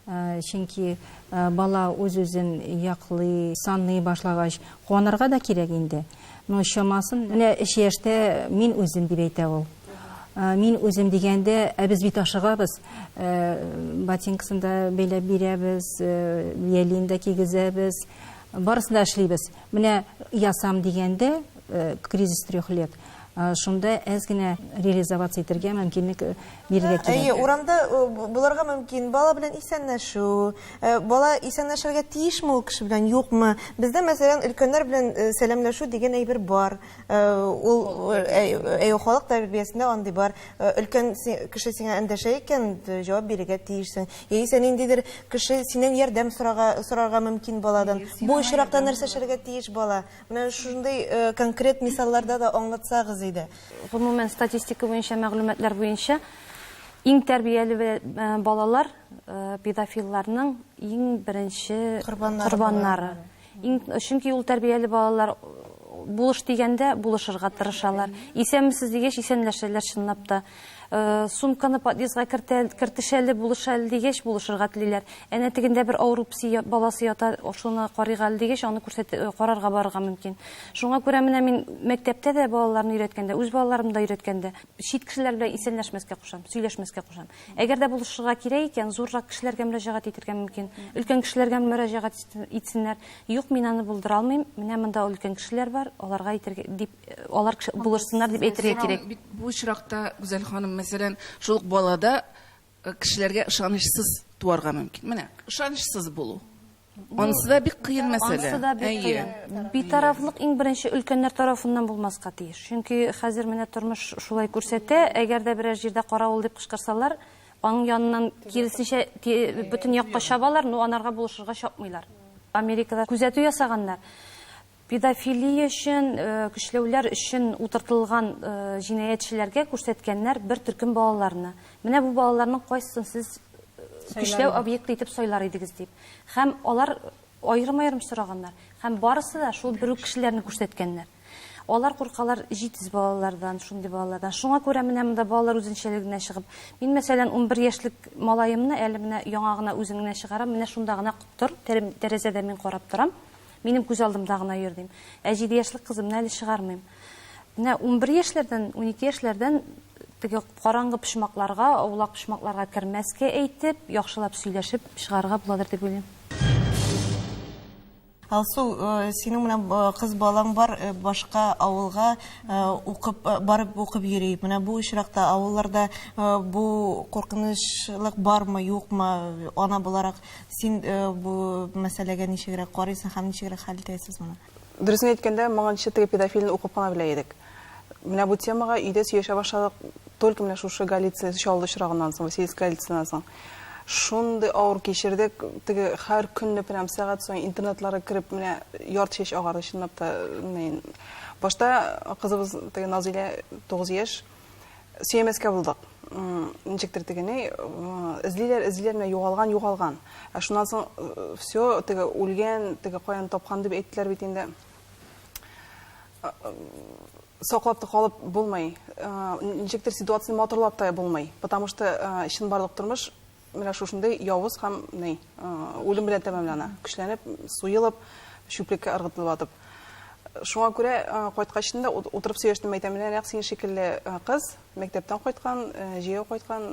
Чөнки бала үз-үзен яклый, саный башлагач, куанырга да кирәк инде. Ну, чамасын, менә өч яшьтә мин үзем дип әйтә ул. Мин үзем дигәндә, ә без бит ашыгабыз. Ботинкасын да бәйләп бирәбез, ялин да кигезәбез. Барысын да эшлибез. Менә ясам дигәндә, кризис трех лет, шунда әз генә реализоваться итәргә мөмкинлек бирергә кирәк. Әйе, урамда булырга мөмкин, бала белән исәнләшү, бала исәнләшергә тиешме ул кеше белән, юкмы? Бездә, мәсәлән, өлкәннәр белән сәламләшү дигән әйбер бар. Ул, әйе, халык тәрбиясендә андый бар. Өлкән кеше сиңа эндәшә икән, җавап бирергә тиешсең. Яисә ниндидер кеше синнән ярдәм сорарга мөмкин баладан. Бу очракта нәрсә эшләргә тиеш бала? Менә шундый конкрет мисалларда да аңлатсагыз иде. Гомумән, статистика буенча мәгълүматлар буенча, иң тәрбияле балалар педофилларның иң беренче корбаннары. Чөнки ул тәрбияле балалар булыш дигәндә булышырга тырышалар. Исәнмесез дигәч, исәнләшәләр чынлап та. Сумканы подъездга кертеш әле, булыш әле дигәч, булышырга телиләр. Әнә тегендә бер авыру песи баласы ята, шуны карыйк әле дигәч, аны карарга барырга мөмкин. Шуңа күрә менә мин мәктәптә дә балаларны өйрәткәндә, үз балаларымны да өйрәткәндә, чит кешеләр белән исәнләшмәскә кушам, сөйләшмәскә кушам. Әгәр дә булышырга кирәк икән, зуррак кешеләргә мөрәҗәгать итергә мөмкин. Өлкән кешеләргә мөрәҗәгать итсеннәр. Юк, мин аны булдыра алмыйм, менә монда өлкән кешеләр бар, аларга әйтергә, дип алар булышсыннар дип әйтергә кирәк. Бу очракта, Гүзәл ханым, мәсәлән, шул ук балада э, кешеләргә ышанычсыз туарга мөмкин. Менә, ышанычсыз булу. Анысы да бик кыен мәсьәлә. Анысы да бик кыен. Битарафлык иң беренче өлкәннәр тарафыннан булмаска тиеш. Чөнки хәзер менә тормыш шулай күрсәтә, әгәр дә берәр җирдә каравыл дип кычкырсалар, аның яныннан киресенчә бөтен якка чабалар, но анарга булышырга чапмыйлар. Америкада күзәтү ясаганнар. Педофилия өчен көчләүләр өчен утыртылган җинаятьчеләргә күрсәткәннәр бер төркем балаларны. Менә бу балаларның кайсысын сез көчләү объекты итеп сайлар идегез дип. Һәм алар аерым-аерым сораганнар. Һәм барысы да шул бер үк кешеләрне күрсәткәннәр. Алар куркалар җитез балалардан, шундый балалардан. Шуңа күрә менә монда балалар үзенчәлеге генә чыгып. Мин, мәсәлән, унбер яшьлек малаемны әле менә яңа гына үзен генә чыгарам, менә шунда гына тор, тәрәзәдән мин карап торам. Минем күз алдымда гына йөр, дим. Ә җиде яшьлек кызымны әле чыгармыйм. Менә унбер яшьләрдән, унике яшьләрдән теге караңгы почмакларга, аулак почмакларга кермәскә әйтеп, яхшылап сөйләшеп чыгарырга буладыр дип уйлыйм. Алсу, синең менә кыз балаң бар, башка авылга укып, барып укып йөри. Менә бу очракта авылларда бу куркынычлык бармы, юкмы, ана буларак? Син бу мәсьәләгә ничегрәк карыйсың һәм ничегрәк хәл итәсез моны? Дөресен әйткәндә, моңа ничек теге педофилны укып кына белә идек. Менә бу темага өйдә сөйләшә башладык только менә шушы Голицын чалды очрагыннан соң, Василиск Голицыннан соң. Шундый авыр кичердек, теге һәр көнне прям сәгать саен интернетларга кереп, менә ярты чәч агарды чынлап та. Башта кызыбыз теге Назилә 9 яшь, сөймәскә булдык. Ничектер теге ни, эзлиләр, эзлиләр, менә югалган, югалган. Ә шуннан соң все, теге үлгән, теге каян тапкан дип әйттеләр бит инде. Саклап та калып булмый. Ничектер ситуацияне матурлап та булмый. Потому что чынбарлык тормыш Менә шушындый явыз һәм ни, үлем белән тәмамлана. Көчләнеп, суелып, чүплеккә ыргытылып атып. Шуңа күрә кайткач инде утырып сөйләштем, әйтәм, менә нәкъ син шикелле кыз, мәктәптән кайткан, җәяү кайткан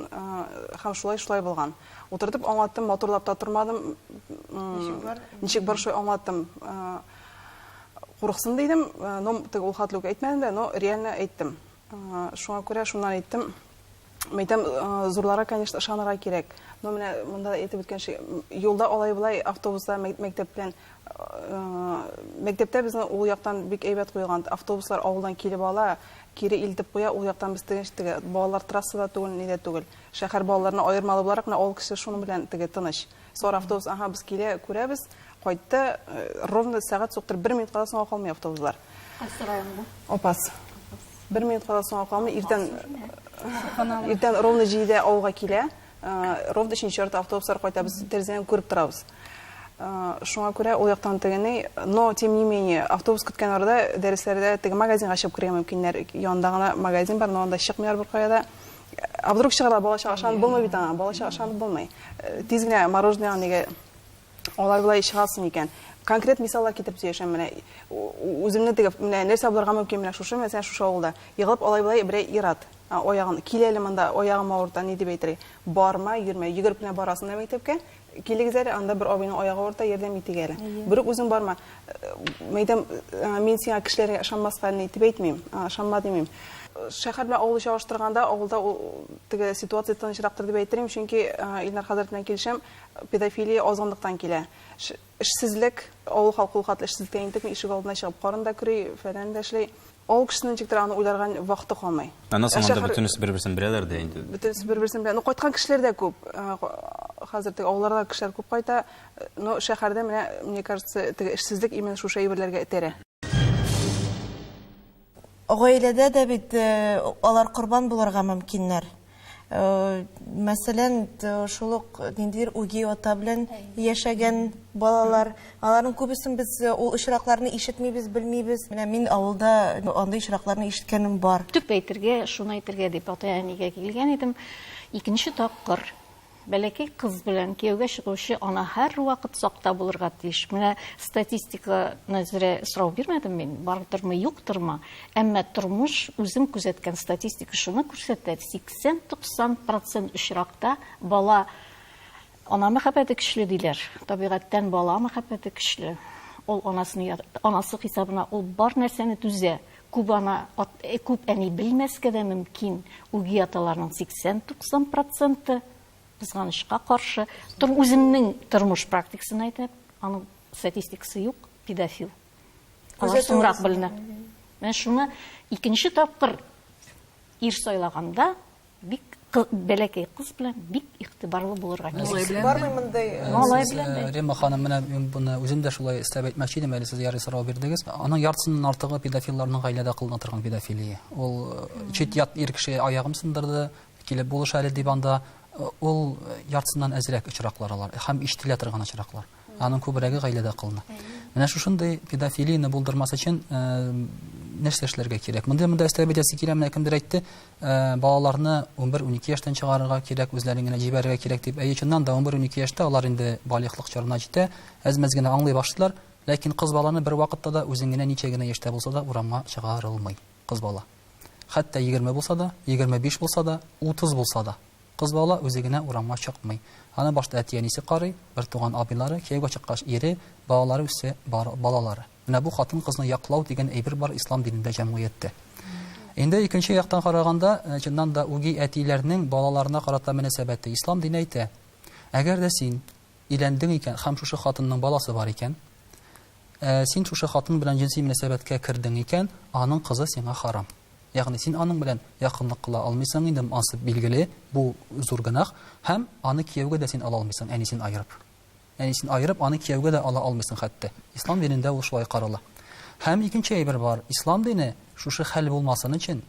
һәм шулай шулай булган. Утыртып аңлаттым, матурлап та тормадым. Ничек бар? Ничек бар шулай аңлаттым. Курыксын дидем, но теге ул хәтле үк әйтмәдем дә, но реально әйттем. Шуңа күрә шуннан әйттем, мәйтәм, зурларга, конечно, ышанырга кирәк. Но менә монда әйтеп үткәнчә, юлда алай-болай автобуслар мәктәптән мәктәптә безнең ул яктан бик әйбәт куелган. Автобуслар авылдан килеп ала, кире илтеп куя, ул яктан без тыныч теге балалар трассада түгел, нидә түгел. Шәһәр балаларына аермалы буларак, менә авыл кешесе шуның белән теге тыныч. Сары автобус, аһа, без килә, күрәбез, кайтты, ровно сәгать суктыр, бер минутка да соңга калмый автобуслар. Кайсы районда? Опас. Бер минутка да соңга калмый, иртән, иртән ровно җидедә авылга килә, ровно өченче ярты автобуслар кайта, без тәрәзәдән күреп торабыз. Шуңа күрә ул яктан тегене, но тем не менее, автобус көткән арада дәресләрдә теге магазинга чыгып керергә мөмкиннәр, янында гына магазин бар, но анда чыкмыйлар беркая да. А вдруг чыгарда балачага ышанып булмый бит аңа, балачага ышанып булмый. Э, тиз генә мороженое нигә алай болай чыгасың икән. Конкрет мисаллар китереп сөйләшәм менә. Үземне теге менә нәрсә булырга мөмкин менә шушы мәсәлән шушы авылда. Егылып алай болай берәй ират. Аягын киләле монда, аягым авырта, ни дип әйтергә. Барма, йөрмә, йөгереп кенә барасың да мәктәпкә, Килегез әле, анда бер абыйның аягы авырта, ярдәм итик әле. Берүк үзең барма. Мәйдәм, мин сиңа кешеләргә ышанмаска әле итеп әйтмим, ышанма димим. Шәһәр белән авылны чагыштырганда, авылда теге ситуация тынычрактыр дип әйтер идем, чөнки Илнар хәзрәт белән килешәм, педофилия азгынлыктан килә. Эшсезлек, авыл халкы ул хәтле эшсезлектә интекми, ишек алдына чыгып карын да көри, фәлән дә эшли. Ул кешенең ничектер аны уйларга вакыты калмый. Аннан соң анда бөтенесе бер-берсен беләләр дә инде. Бөтенесе бер-берсен белә. Ну, кайткан кешеләр дә күп. Хәзер теге авылларга кешеләр күп кайта. Ну, шәһәрдә менә, мне кажется, теге эшсезлек именно шушы әйберләргә этәрә. Гаиләдә дә бит алар корбан булырга мөмкиннәр. Мәсәлән, шул ук ниндидер үги ата белән яшәгән балалар, аларның күбесен без ул очракларны ишетмибез, белмибез. Менә мин авылда андый очракларны ишеткәнем бар. Төп әйтергә, шуны әйтергә дип ата-әнигә килгән идем. Икенче тапкыр. Бәләкәй кыз белән кияүгә чыгучы ана һәрвакыт сакта булырга тиеш. Менә статистика нәзерә сорау бирмәдем мин, бардырмы, юктырмы. Әмма тормыш үзем күзәткән статистика шуны күрсәтә, 80-90 процент очракта бала ана мәхәббәте көчле диләр. Табигатьтән бала мәхәббәте көчле. Ул анасының анасы хисабына ул бар нәрсәне түзә. Күп ана, күп әни белмәскә дә мөмкин, үги аталарның 80-90 проценты, кызганычка каршы, тор, үземнең тормыш практикасын әйтәм, аның статистикасы юк, педофил. Алар соңрак беленә. Менә шуны икенче тапкыр ир сайлаганда Бик бәләкәй кыз белән бик игътибарлы булырга кирәк. Малай белән бармы мондый? Малай белән дә. Рима ханым, менә мин буны үзем дә шулай эстәп әйтмәкче идем, әле сез ярый сорау бирдегез. Аның яртысыннан артыгы педофилларның гаиләдә кылына торган педофилия. Ул э, чит ят ир кеше аягым сындырды, килеп булыш әле дип анда э, ул яртысыннан әзрәк очраклар алар һәм ишетелә торган очраклар. Аның күбрәге гаиләдә кылына. Менә шушындый педофилияне булдырмас өчен нәрсә эшләргә кирәк? Монда монда өстәп бетәсе килә, менә кемдер әйтте, балаларны 11-12 яшьтән чыгарырга кирәк, үзләрен генә җибәрергә кирәк дип. Әйе, чыннан да 11-12 яшьтә алар инде балигълык чорына җитә, әз-мәз генә аңлый башлыйлар, ләкин кыз баланы бервакытта да үзең генә ничә генә яшьтә булса да урамга чыгарылмый. кыз бала. Хәтта егерме булса да, егерме биш булса да, утыз булса да, кыз бала үзе генә урамга чыкмый. Аны башта әти-әнисе карый, бертуган абыйлары, кияүгә чыккач ире, балалары үссә, балалары. Менә бу хатын-кызны яклау дигән әйбер бар ислам динендә, җәмгыятьтә. Инде икенче яктан караганда, чыннан да, үги әтиләрнең балаларына карата мөнәсәбәте. Ислам дине әйтә, Әгәр дә син, Өйләндең икән һәм шушы хатынның баласы бар икән, ә син шушы хатын белән җенси мөнәсәбәткә кердең икән, аның кызы сиңа харам. Ягъни син аның белән якынлык кыла алмыйсың инде, монсы билгеле, бу зур гөнаһ, һәм аны кияүгә дә син ала алмыйсың, әнисен аерып. Әнисен аерып, аны кияүгә дә ала алмыйсың хәтта. Ислам динендә ул шулай карала. Һәм икенче әйбер бар, Ислам дине шушы хәл булмасын өчен,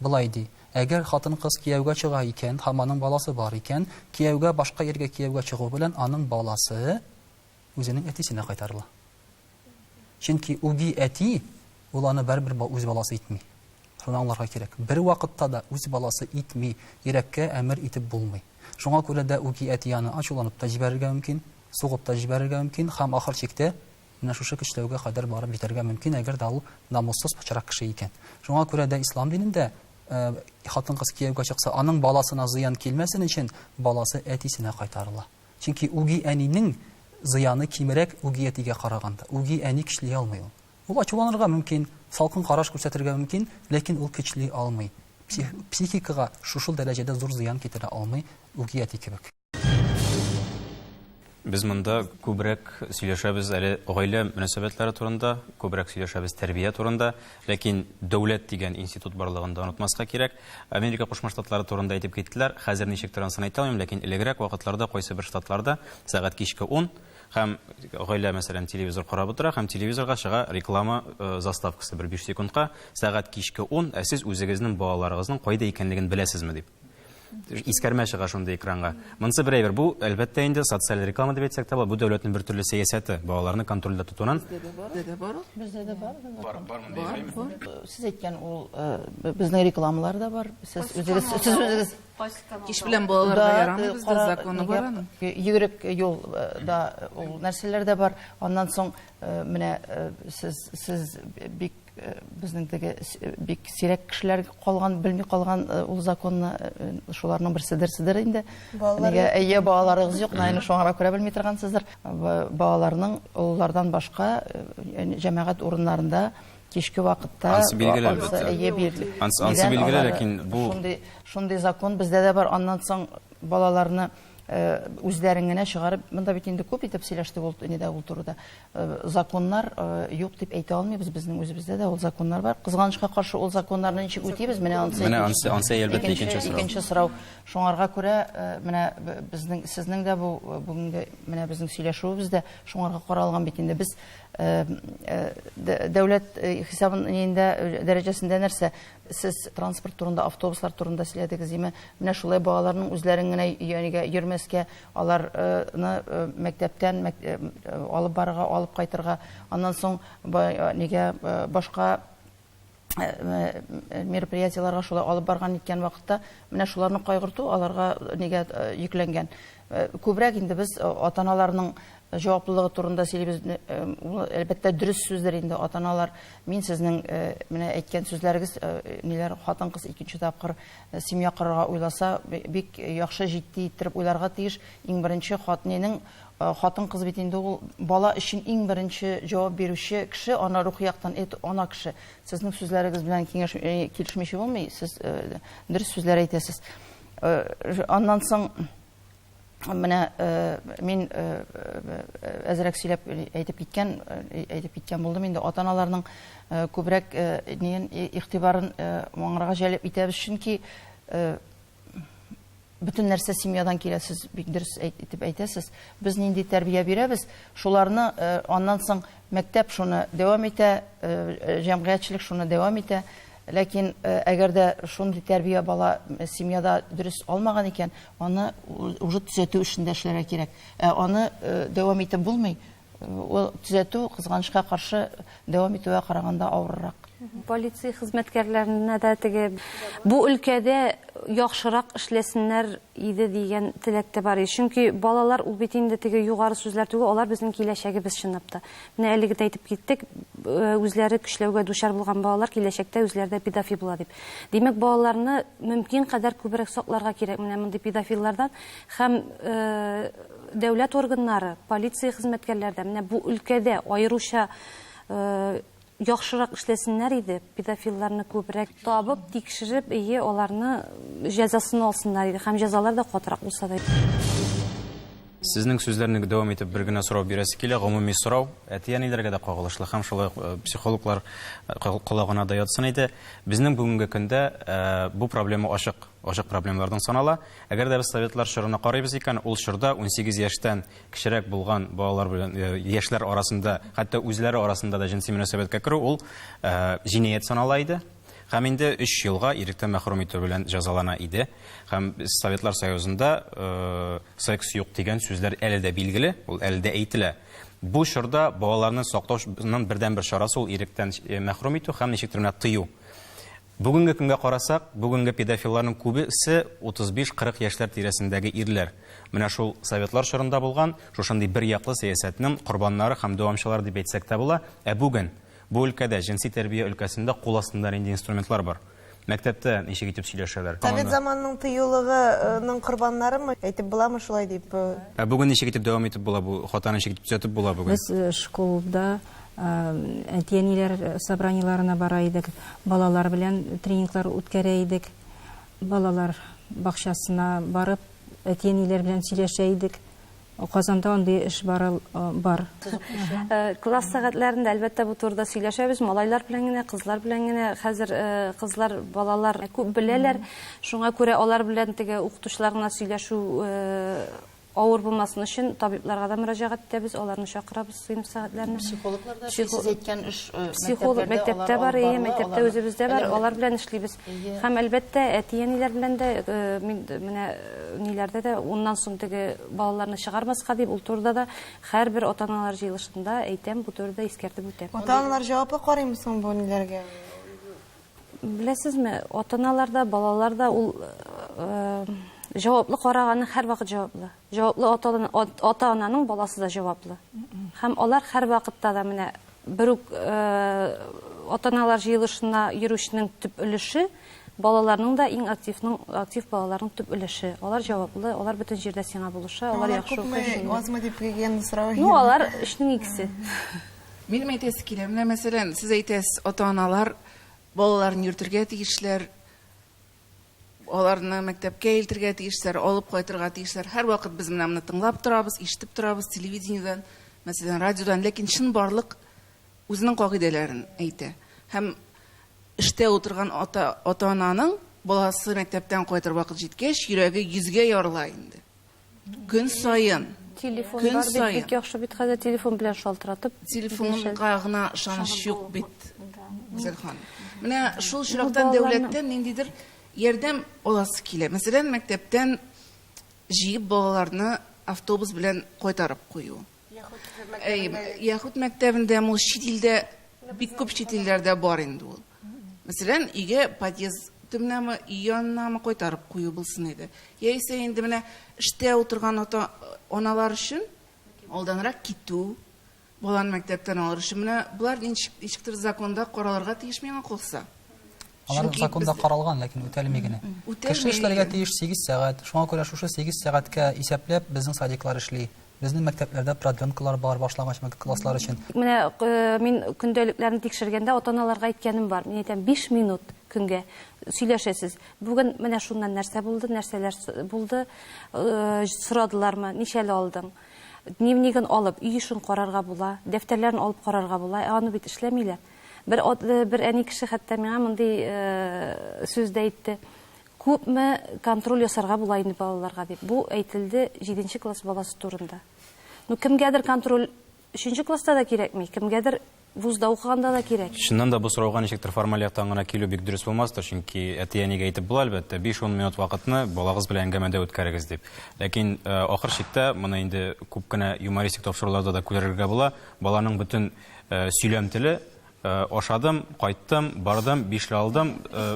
Болай ди, Әгәр хатын-кыз кияүгә чыга икән һәм аның баласы бар икән, кияүгә башка иргә кияүгә чыгу белән аның баласы үзенең әтисенә кайтарыла. Чөнки үги әти ул аны барыбер үз баласы итми. Шуны аңларга кирәк. Бервакытта да үз баласы итми, йөрәккә әмер итеп булмый. Шуңа күрә дә үги әти аны ачуланып та җибәрергә мөмкин, сугып та җибәрергә мөмкин һәм ахыр чиктә Менә шушы көчләүгә кадәр барып җитәргә мөмкин, әгәр дә ул намуссыз пычрак кеше икән. Шуңа күрә дә ислам динендә хатын-кыз кияүгә чыкса, аның баласына зыян килмәсен өчен, баласы әтисенә кайтарыла. Чөнки үги әнинең зыяны кимерәк үги әтигә караганда. Үги әни көчли алмый ул. Ул ачуланырга мөмкин, салкын караш күрсәтергә мөмкин, ләкин ул көчли алмый. Психикага шушыл дәрәҗәдә зур зыян китерә алмый үги әти кебек. Без монда күбрәк сөйләшәбез әле гаилә мөнәсәбәтләре турында, күбрәк сөйләшәбез тәрбия турында, ләкин дәүләт дигән институт барлыгын да онытмаска кирәк. Америка Кушма Штатлары турында әйтеп киттеләр. Хәзер ничек торанысын әйтә алмыйм, ләкин элегрәк вакытларда кайсы бер штатларда сәгать кичке 10 һәм гаилә мәсәлән телевизор карап утыра һәм телевизорга чыга реклама э, заставкасы бер 5 секундка сәгать кичке 10, ә сез үзегезнең балаларыгызның кайда икәнлеген беләсезме дип. искәрмә чыга шундый экранга. Монсы бер әйбер. Бу, әлбәттә инде, социаль реклама дип әйтсәк тә була, бу дәүләтнең бер төрле сәясәте, балаларны контрольдә тотуның. Бездә дә бар. Бездә дә бар. Бар, бар мондый время. Сез әйткән ул безнең рекламалар да бар. Сез үзегез, сез үзегез. Кич белән балаларга ярамый бездә законы бар аның. Йөгерек юл да ул нәрсәләр дә бар. Аннан соң менә сез, сез бик Э, безнең теге э, бик сирәк кешеләр калган белми калган э, ул законны шуларның берседер седер инде нигә әйе балаларыгыз юк наины шуңара күрә белми торгансыздыр балаларның олылардан башка җәмәгать урыннарында кичке вакытта ансы билгеле әлбәттә ансы билгеле ләкин бу шундый шундый закон бездә дә бар аннан соң балаларны Э, үзләрен генә чыгарып монда бит инде күп итеп сөйләштек ул инде ул турыда Э, законнар э, юк дип әйтә алмыйбыз безнең үзебездә дә ул законнар бар кызганычка каршы ул законнарны ничек үтибез менә ансы менә ансы ансы әлбәттә икенче сорау икенче сорау шуңарга күрә э, менә безнең сезнең дә бу бүгенге менә безнең сөйләшүебез дә шуңарга каралган бит инде без дәүләт хисабын инде дәрәҗәсендә нәрсә сез транспорт турында автобуслар турында сөйләдегез име менә шулай балаларның үзләрен генә янигә йөрмәскә Алар ны мәктәптән алып барырга, алып кайтырга, аннан соң ба нигә башка мероприятиеларга шулай алып барган иткән вакытта менә шуларны кайгырту аларга нигә йөкләнгән. Күбрәк инде без ата-аналарның җаваплылыгы турында сөйлибез. Ул әлбәттә дөрес сүздер инде, ата-аналар мин сезнең менә әйткән сүзләрегез ниләр хатын-кыз икенче тапкыр Семья корырга уйласа, бик яхшы җитди иттереп уйларга тиеш. Иң беренче хатнинең, хатын-кыз бит инде ул бала өчен иң беренче җавап бирүче кеше, аны рухи яктан эт ана кеше. Сезнең сүзләрегез белән киңәш килешмичә булмый, сез дөрес сүзләр әйтәсез. Аннан соң. менә э, мин э, э, әзрәк сөйләп әйтеп киткән әйтеп киткән булдым инде ата аналарның күбрәк ниен игътибарын моңарга җәлеп итәбез чөнки бөтен нәрсә семьядан килә сез бик дөрес итеп әйтәсез без нинди тәрбия бирәбез шуларны аннан соң Мәктәп шуны дәвам итә, җәмгыятьчелек шуны дәвам итә. Ләкин әгәр дә шундый тәрбия бала семьяда дөрес алмаган икән, аны уже төзәтү эшендә эшләргә кирәк. Ә аны дәвам итеп булмый. Ул төзәтү, кызганычка каршы, дәвам итүгә караганда авыррак. Полиция хезмәткәрләренә дә теге бу өлкәдә яхшырак эшләсеннәр иде дигән теләк тә бар иде. Чөнки балалар ул бит инде теге югары сүзләр түгел, алар безнең киләчәгебез чынлап та. Менә әлеге дә әйтеп киттек, үзләре көчләүгә дучар булган балалар киләчәктә үзләре дә педофил була дип. Димәк, балаларны мөмкин кадәр күбрәк сакларга кирәк менә мондый педофиллардан һәм дәүләт органнары, полиция хезмәткәрләре дә менә бу өлкәдә аеруча Яхшырак эшләсеннәр иде, педофилларны күбрәк. Табып, тикшереп, эйе, аларны җәзасын алсыннар иде һәм җәзалар да катырак булса да иде. Сезнең сүзләрне дәвам итеп бер генә сорау бирәсе килә, гомуми сорау, әти-әниләргә дә кагылышлы һәм шулай ук психологлар колагына да ятсын иде. Безнең бүгенге көндә бу проблема ачык, ачык проблемалардан санала. Әгәр дә без советлар чорына карыйбыз икән, ул чорда унсигез яшьтән кечерәк булган балалар белән э, яшьләр арасында, хәтта үзләре арасында да җенси мөнәсәбәткә керү ул э, җинаять санала иде. Һәм инде 3 елга иректән мәхрүм итү белән җәзалана иде. Һәм Советлар Союзында э, секс юк дигән сүзләр әле дә билгеле, ул әле дә әйтелә. Бу чорда балаларны саклаучының бердәнбер чарасы ул иректән мәхрүм итү һәм ничектер менә тыю. Бүгенге көнгә карасак, бүгенге педофилларның күбе се 35-40 яшьләр тирәсендәге ирләр. Менә шул советлар чорында булган шушындый бер яклы сәясәтнең корбаннары һәм дәвамчылары дип әйтсәк тә була, ә бүген бу өлкәдә, җенси тәрбия өлкәсендә кул астында нинди инструментлар бар? Мәктәптә ничек итеп сөйләшәләр? Совет заманының тыюлыгы ның корбаннарымы? Әйтеп буламы шулай дип? Ә бүген ничек итеп дәвам итеп була бу хатаны ничек итеп төзәтеп була бүген? Без школда Әти-әниләр собраниеләренә бара идек, балалар белән тренинглар үткәрә идек. Балалар бакчасына барып, әти-әниләр белән сөйләшә идек. Казанда андый эш бары бар. Класс сәгатьләрендә, әлбәттә, бу турыда сөйләшәбез. Малайлар белән генә, кызлар белән генә. Хәзер кызлар, балалар күп беләләр. Шуңа күрә алар белән теге укытучылар гына сөйләшү Авыр булмасын өчен табибларга да мөрәҗәгать итәбез, аларны чакырабыз сыйныф сәгатьләренә. Психологлар да сез әйткән эш э, психолог мәктәптә бар, әйе, мәктәптә үзебездә бар, алар белән эшлибез. Һәм әлбәттә, әти-әниләр белән дә э, мин менә э, ниләрдә дә уннан соң теге балаларны чыгармаска дип, ул турыда да һәрбер ата-аналар җыелышында әйтәм, бу турыда искәртеп үтәм. Ата-аналар җаваплы карыймы соң бу ниләргә? Беләсезме, атаналар да, балалар да ул җаваплы караганы һәрвакыт җаваплы. Җаваплы ата-ананың баласы да җаваплы. Һәм алар һәрвакытта да менә бер үк атаналар җыелышына йөрүченең төп өлеше балаларның да иң активның актив балаларның төп өлеше. Алар җаваплы, алар бөтен җирдә сиңа булыша, алар яхшы укый. Алар күпме, азмы дип дигән сорау. Ну, алар 3 икесе. Минем әйтәсе килә, менә мәсәлән, сез әйтәсез, ата-аналар балаларын йөртергә тиешләр, аларны мәктәпкә илтергә тиешләр, алып кайтырга тиешләр. Һәрвакыт без менә моны тыңлап торабыз, ишетеп торабыз телевидениедән, мәсәлән, радиодан, ләкин чынбарлык үзенең кагыйдәләрен әйтә. Һәм эштә утырган ата-ананың баласы мәктәптән кайтыр вакыт җиткәч, йөрәге йөзгә ярыла инде. Көн саен. Телефон Көн бар бит, саен. бик яхшы бит хәзер телефон белән шалтыратып. Телефонга гына ышаныч юк бит, Гүзәл ханым. Менә шул очрактан дәүләттән ниндидер ярдәм аласы килә. Мәсәлән, мәктәптән җыеп балаларны автобус белән кайтарып кую. Яхуд мәктәбендә ул чит илдә бик күп чит илләрдә бар инде ул. Мәсәлән, өйгә подъезд төбенәме, өй янынамы кайтарып кую булсын иде. Яисә инде менә эштә утырган ата аналар өчен алданрак китү, баланы мәктәптән алыр өчен менә болар ничектер законда каралырга тиеш миңа калса. Алар законда без... каралган, ләкин үтәлми генә. Кеше эшләргә тиеш 8 сәгать. Шуңа күрә шушы 8 сәгатькә исәпләп безнең садиклар эшли. Безнең мәктәпләрдә продленкалар бар башлагач класслар өчен. Менә э, мин көндәлекләрне тикшергәндә ата-аналарга әйткәнем бар. Мин әйтәм 5 минут көнгә сөйләшәсез. Бүген менә шуннан нәрсә булды, нәрсәләр булды, э, сорадылармы, ничәле алдың? Дневнигын алып, үй эшен карарга була, дәфтәрләрен алып карарга була. Ә аны бит эшләмиләр. Бер ат, бер әни кеше хәтта миңа мондый сүз дә әйтте. Күпме контроль ясарга була инде балаларга дип. Бу әйтелде 7 нче класс баласы турында. Ну, кемгәдер контроль 3 нче класста да кирәкми, кемгәдер вузда укыганда да кирәк. Чыннан да бу сорауга ничектер формаль яктан гына килү бик дөрес булмастыр, чөнки әти-әнигә әйтеп була, әлбәттә, 5-10 минут вакытны балагыз белән әңгәмәдә үткәрегез дип. Ләкин э, ахыр чиктә, моны инде күп кенә юмористик тапшыруларда да күрергә була, баланың бөтен Сөйләм теле, ашадым, кайттым, бардым, бишле алдым,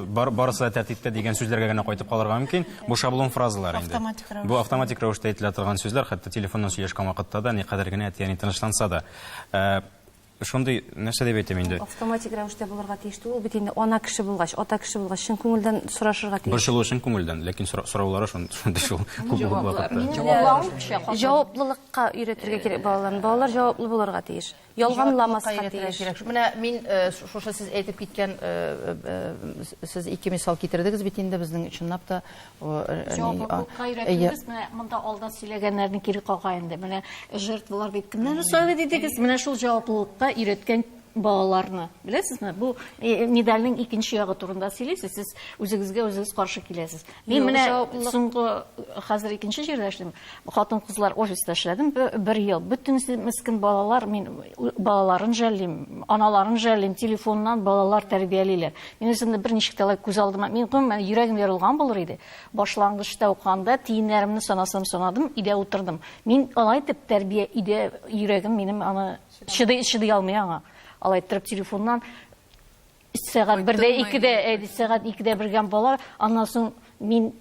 бар, барысы да тәртиптә дигән сүзләргә генә кайтып калырга мөмкин. Бу шаблон фразалар инде. Автоматик рәвештә. Бу автоматик рәвештә әйтелә торган сүзләр, хәтта телефоннан сөйләшкән вакытта да, никадәр генә әти-әни тынычланса да. Ә, Шундый, нәрсә дип әйтим инде? Автоматик рәвештә булырга тиеш түгел, бит инде ана кеше булгач, ата кеше булгач, чын күңелдән сорашырга тиеш. Борчылу чын күңелдән, ләкин сораулары шундый шул. Җаваплары. Җаваплылык. Ка өйрәтергә кирәк балаларны. Балалар җаваплы булырга тиеш. Ялганламаска тиеш. Кирәк. Менә мин э, шушы сез әйтеп киткән э, э, сез ике мисал китердегез бит инде безнең чынлап та җаваплылыкка өйрәтүбез. Менә монда алда сөйләгәннәрне кире кага инде. Менә жертвалар бит кемнәр сойлы дидегез? Менә шул җаваплылыкка өйрәткән балаларны. Беләсезме, бу медальнең икенче ягы турында сөйлисез, сез үзегезгә үзегез каршы киләсез. Мин менә соңгы хәзер икенче җирдә эшлим. Хатын-кызлар офиста эшләдем бер ел. Бөтенесе мескин балалар, мин балаларын жәллим, аналарын жәллим, телефоннан балалар тәрбиялиләр. Мин үземне берничек тә алай күз алдыма, мин гомумән йөрәгем ярылган булыр иде. Башлангычта укыганда тиеннәремне санасам санадым, өйдә утырдым. Мин алай дип тәрбия өйдә йөрәгем минем аны Чыдый, чыдый алмый аңа. Алай иттереп телефоннан сәгать бердә икедә әйди сәгать икедә бергән бала аннан соң мин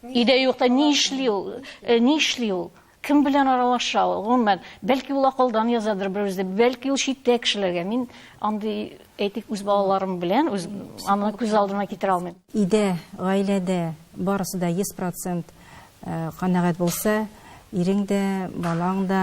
өйдә юкта ни эшли ул э, ни эшли ул кем белән аралаша ул гомумән бәлки ул акылдан язадыр бер үзе бәлки ул читтә кешеләргә мин андый әйтик үз балаларым белән үз аны күз алдына китерә алмыйм өйдә гаиләдә барысы да йөз процент э, канәгать булса ирең дә балаң да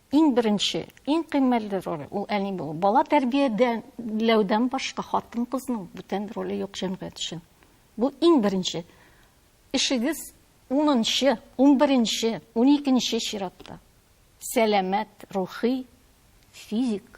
Иң беренче, иң кыйммәтле роль, ул әни булу. Бала тәрбиядәләүдән башка хатын-кызның бүтән роле юк җәмгыять өчен. Бу иң беренче. Эшегез унынчы, унберенче, уникенче чиратта. Сәламәт, рухи, физик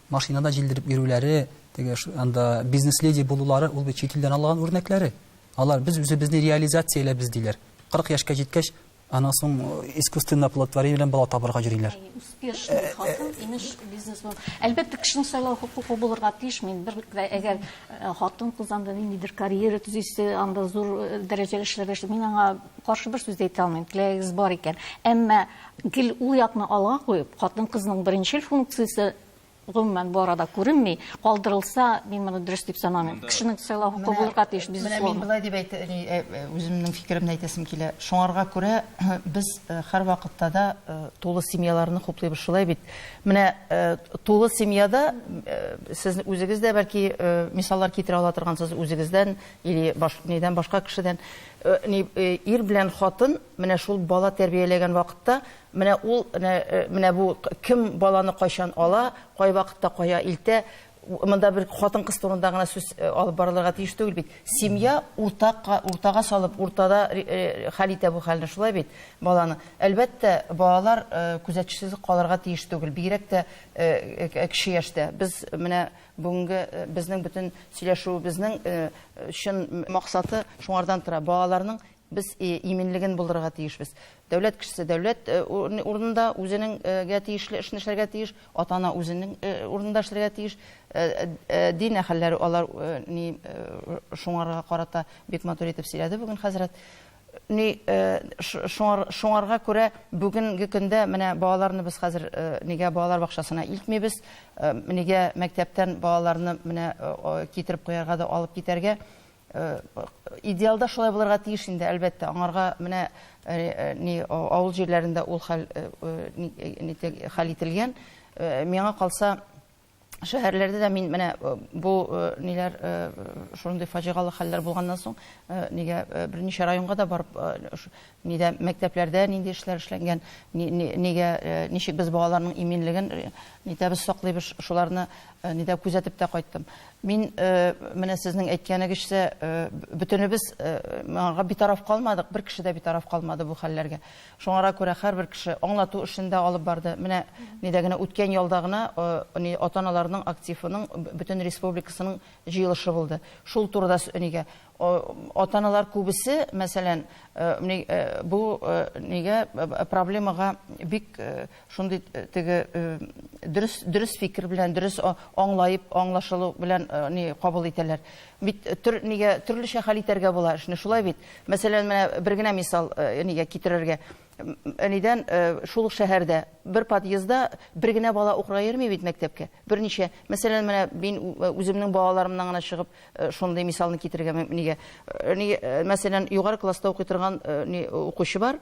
Машинада җилдереп йөрүләре, теге анда бизнес-леди булулары, ул бит чит илдән алган үрнәкләре. Алар без үзебезне реализацияләбез диләр. 40 яшькә җиткәч, аннан соң искусственно оплодотворение белән бала табырга йөриләр. Успешный хатын, имеш бизнесмен. Әлбәттә, кешенең сайлау хокукы булырга тиеш. Мин бер әгәр хатын-кыз анда ниндидер карьера төзисе, анда зур дәрәҗәле эшләргә, мин аңа Каршы бер сүз дә әйтә алмыйм, теләгегез бар икән. Әмма гел ул якны алга куеп, хатын-кызның беренчел функциясе гомумән бу арада күренми, калдырылса, мин моны дөрес дип санамыйм. Кешенең сайлау хокукы булырга тиеш, безусловно. Менә мин болай дип әйтә, э, э, э, үземнең фикеремне әйтәсем килә. Шуңарга күрә без һәрвакытта да тулы семьяларны хуплыйбыз шулай бит. Менә тулы семьяда сез үзегез дә бәлки мисаллар китерә ала торгансыз үзегездән или баш, нидән башка кешедән. Ни, ир белән хатын менә шул бала тәрбияләгән вакытта, менә ул, нә, менә бу кем баланы кайчан ала, кайвакытта кая илтә, монда бер хатын-кыз турында гына сүз алып барылырга тиеш түгел бит. Семья уртак, уртага салып, уртада хәл итә бу хәлне, шулай бит, баланы. Әлбәттә, балалар күзәтчесез калырга тиеш түгел, бигрәк тә кече яшьтә. Без менә Бүгенге безнең бөтен сөйләшүебезнең чын максаты шуңардан тора. Балаларның без иминлеген булдырырга тиешбез. Дәүләт кешесе дәүләт урынында үзенеңгә тиешле эшне эшләргә тиеш, ата-ана үзенең урынында эшләргә тиеш. Дин әһелләре алар шуңарга карата бик матур итеп сөйләде бүген хәзрәт. Ни, шуңарга күрә бүгенге көндә менә балаларны без хәзер нигә балалар бакчасына илтмибез, нигә мәктәптән балаларны менә китереп куярга да алып китәргә. Идеалда шулай булырга тиеш инде, әлбәттә, аңарга менә ни авыл җирләрендә ул хәл ителгән. Миңа калса, шәһәрләрдә дә мин менә э, бу э, ниләр э, шундый фаҗигалы хәлләр булганнан соң нигә берничә районга да барып нидә мәктәпләрдә нинди эшләр эшләнгән нигә ничек без балаларның иминлеген нитәбез саклыйбыз шуларны нидә күзәтеп тә кайттым мин менә сезнең әйткәнегезчә бөтенебез моңа битараф калмадык бер кеше дә битараф калмады бу хәлләргә Шуңара күрә һәрбер кеше аңлату эшен дә алып барды. Менә нидә генә, үткән ялда гына ни ата-аналарның активының бөтен республикасының җыелышы булды. Шул турыда нигә ата-аналар күбесе, мәсәлән, ни бу нигә проблемага бик Шундый теге дөрес, дөрес фикер белән, дөрес аңлаеп, аңлашылу белән ни кабул итәләр. Бит төр, нигә төрлечә хәл итәргә була эшне, шулай бит. Мәсәлән, менә бер генә мисал нигә китерергә. Әнидән шул ук шәһәрдә бер подъездда бер генә бала укырга йөрми бит мәктәпкә. Берничә, мәсәлән, менә мин үземнең балаларымнан гына чыгып шундый мисалны китерергә нигә. Мәсәлән, югары класста укый торган укучы бар,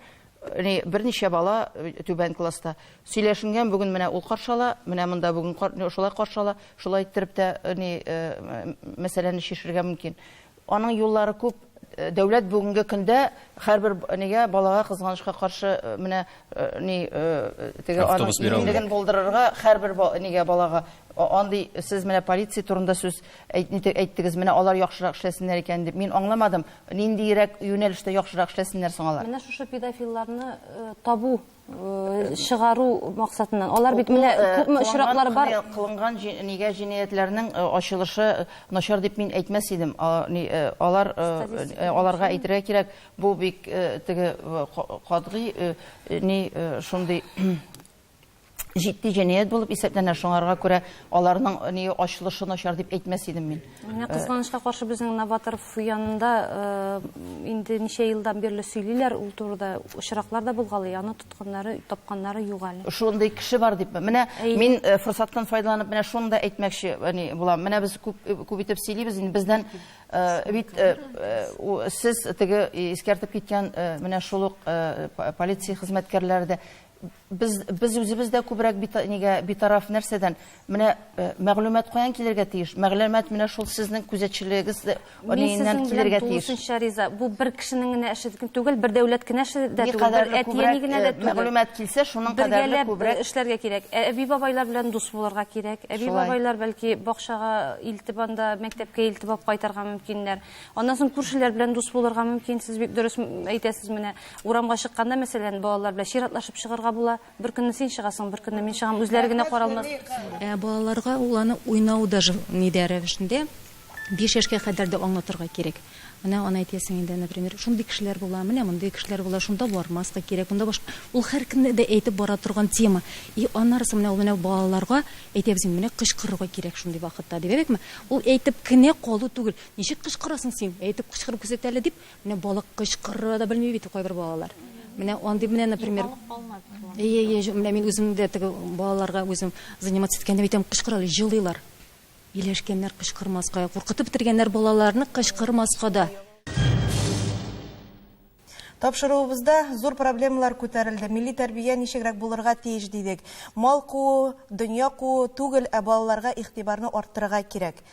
Әни, берничә бала түбән класста. Сөйләшенгән бүген менә ул каршы ала, менә монда бүген шулай каршы ала. Шулай иттереп тә әни мәсьәләне чишергә мөмкин. Аның юллары күп. Дәүләт бүгенге көндә һәрбер әнигә, балага кызганычка каршы менә ни теге аның иминлеген булдырырга һәрбер әнигә, балага андый сез менә полиция турында сүз Әйт, нитек әйттегез, менә алар яхшырак эшләсеннәр икән дип. Мин аңламадым, ниндиерәк юнәлештә яхшырак эшләсеннәр соң алар? Менә шушы педофилларны табу, чыгару максатыннан. Алар бит менә күпме очраклар бар. Кылынган нигә җинаятьләрнең ачылышы начар дип мин әйтмәс идем. Алар, аларга әйтергә кирәк, бу бик теге катгый, ни, шундый җитди җинаять булып исәпләнә. Шуңарга күрә аларның ни ачылышы начар дип әйтмәс идем мин. Менә э, кызганычка каршы безнең Новатор янында э, инде ничә елдан бирле сөйлиләр ул турыда очраклар да булгалый. Аны тотканнары, тапканнары юк әле. Шундый кеше бар дип. Менә мин э, форсаттан файдаланып менә шуны да әйтмәкче ни булам. Менә без күп күп итеп сөйлибез инде бездән бит сез теге искәртеп киткән менә шул ук полиция хезмәткәрләре дә Без, без үзебез дә күбрәк бит, нигә битараф нәрсәдән? Менә э, мәгълүмат каян килергә тиеш? Мәгълүмат менә шул сезнең күзәтчелегегез ниннән килергә тиеш? Тулысынча риза. Бу бер кешенең генә эше түгел, бер дәүләт кенә эше дә түгел, бер әтиәни генә дә э, түгел. Мәгълүмат килсә, шуның кадәрле э, күбрәк эшләргә кирәк. Ә әби бабайлар белән дус булырга кирәк. Әби бабайлар бәлки бакчага илтеп анда, мәктәпкә илтеп алып кайтарга мөмкиннәр. Аннан соң күршеләр белән дус булырга мөмкин. Сез бик дөрес әйтәсез менә. Урамга чыкканда, мәсәлән, балалар белән чиратлашып чыгарга була. Бер көнне син чыгасың, бер көнне мин чыгам. Үзләре генә каралмас. Ә балаларга ул аны уйнау даже ни дә рәвешендә, биш яшькә кадәр дә аңлатырга кирәк. Менә аны әйтәсең инде, например, шундый кешеләр була, менә мондый кешеләр була, шунда бармаска кирәк, монда башка. Ул һәркемне дә әйтеп бара торган тема. И аннарысы менә ул менә балаларга әйтәбез инде, менә кычкырырга кирәк шундый вакытта, дип. Әйбәтме? Ул әйтеп кенә калу түгел. Ничек кычкырасың син? Әйтеп кычкырып күрсәт әле, дип, Менә балык кычкырырга да белми бит кайбер балалар. Менә андый менә, например, Әйе, әйе, җ- менә мин үзем дә теге балаларга үзем заниматься иткәндә әйтәм, кычкыралар, җылыйлар. Ияләшкәннәр кычкырмаска, куркытып бетергәннәр балаларны кычкырмаска да. Тапшыруыбызда зур проблемалар күтәрелде. Милли тәрбия ничегрәк булырга тиеш дидек. Мал куу, дөнья куу түгел, ә балаларга игътибарны арттырырга кирәк.